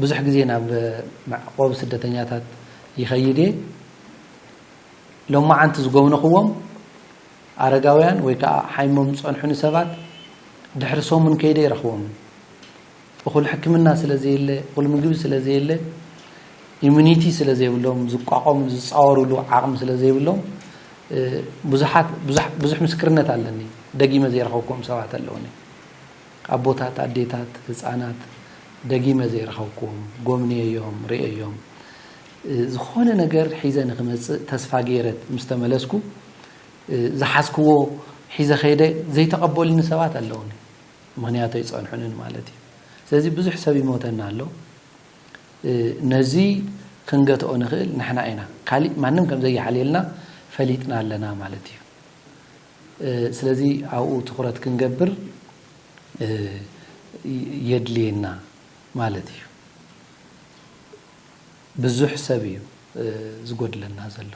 ብዙሕ ግዜ ናብ መዕቆቢ ስደተኛታት ይኸይድ እየ። ሎማዓንቲ ዝጎብነኹዎም ኣረጋውያን ወይ ከዓ ሓይሞም ዝፀንሑኒ ሰባት ድሕሪ ሰሙን ከይደ ይረኽቦም። እኹል ሕክምና ስለ ዘየለ፣ እኹል ምግቢ ስለ ዘየለ፣ ኢሚኒቲ ስለ ዘይብሎም፣ ዝቋቆምሉ ዝፃወርሉ ዓቕሚ ስለ ዘይብሎም ብዙሓት ብዙሕ ምስክርነት ኣለኒ ደጊመ ዘይረኸብኩዎም ሰባት ኣለውኒ። ኣቦታት ኣዴታት ህጻናት ደጊመ ዘይረኸብክዎም ጎብንየዮም ርእየዮም ዝኾነ ነገር ሒዘ ንኽመጽእ ተስፋ ገይረ ምስ ተመለስኩ ዝሓዝክዎ ሒዘ ከይደ ዘይተቐበሉኒ ሰባት ኣለውኒ ምክንያቱ ኣይጸንሑንን ማለት እዩ ስለዚ ብዙሕ ሰብ ይሞተና ኣሎ ነዚ ክንገትኦ ንኽእል ንሕና ኢና ካሊእ ማንም ከም ዘይሓልየልና ፈሊጥና ኣለና ማለት እዩ ስለዚ ኣብኡ ትኹረት ክንገብር የድልየና ማለት እዩ። ብዙሕ ሰብ እዩ ዝጎድለና ዘሎ።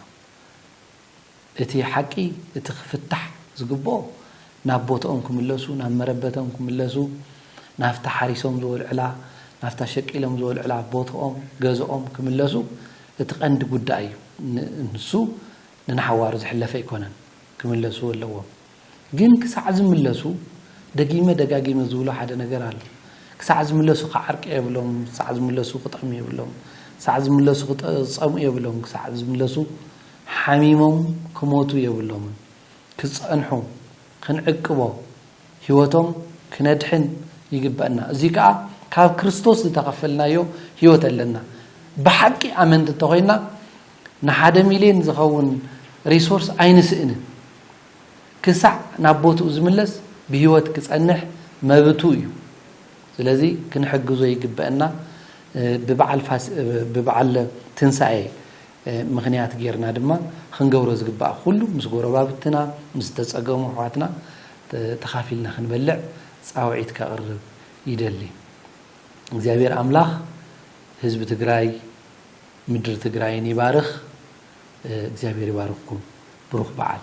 እቲ ሓቂ እቲ ክፍታሕ ዝግብኦ ናብ ቦትኦም ክምለሱ፣ ናብ መረበቶም ክምለሱ፣ ናብታ ሓሪሶም ዝወልዕላ፣ ናብታ ሸቂሎም ዝወልዕላ ቦትኦም ገዝኦም ክምለሱ እቲ ቀንዲ ጉዳይ እዩ። ንሱ ንናሓዋሩ ዝሕለፈ ኣይኮነን። ክምለሱ ኣለዎም ግን ክሳዕ ዝምለሱ ደጊመ ደጋጊመ ዝብሎ ሓደ ነገር ኣሎ ክሳዕ ዝምለሱ ክዓርቂ የብሎም ክሳዕ ዝምለሱ ክጠሙ የብሎም ክሳዕ ዝምለሱ ክፀምኡ የብሎም ክሳዕ ዝምለሱ ሓሚሞም ክሞቱ የብሎምን ክፀንሑ ክንዕቅቦ ህይወቶም ክነድሕን ይግበእና እዙይ ከዓ ካብ ክርስቶስ ዝተኸፈልናዮ ህይወት ኣለና ብሓቂ ኣመንቲ እንተኾይና ንሓደ ሚልዮን ዝኸውን ሪሶርስ ኣይንስእንን። ክሳዕ ናብ ቦትኡ ዝምለስ ብህይወት ክጸንሕ መብቱ እዩ። ስለዚ ክንሕግዞ ይግበእና ብበዓል ብበዓል ትንሳኤ ምኽንያት ጌርና ድማ ኽንገብሮ ዝግባእ ኹሉ ምስ ጎረባብትና ምስ ዝተጸገሙ ኣሕዋትና ተኻፊልና ክንበልዕ ጻውዒት ከቕርብ ይደሊ። እግዚኣብሔር ኣምላኽ ህዝቢ ትግራይ ምድሪ ትግራይን ይባርኽ እግዚኣብሔር ይባርኽኩም ብሩኽ በዓል።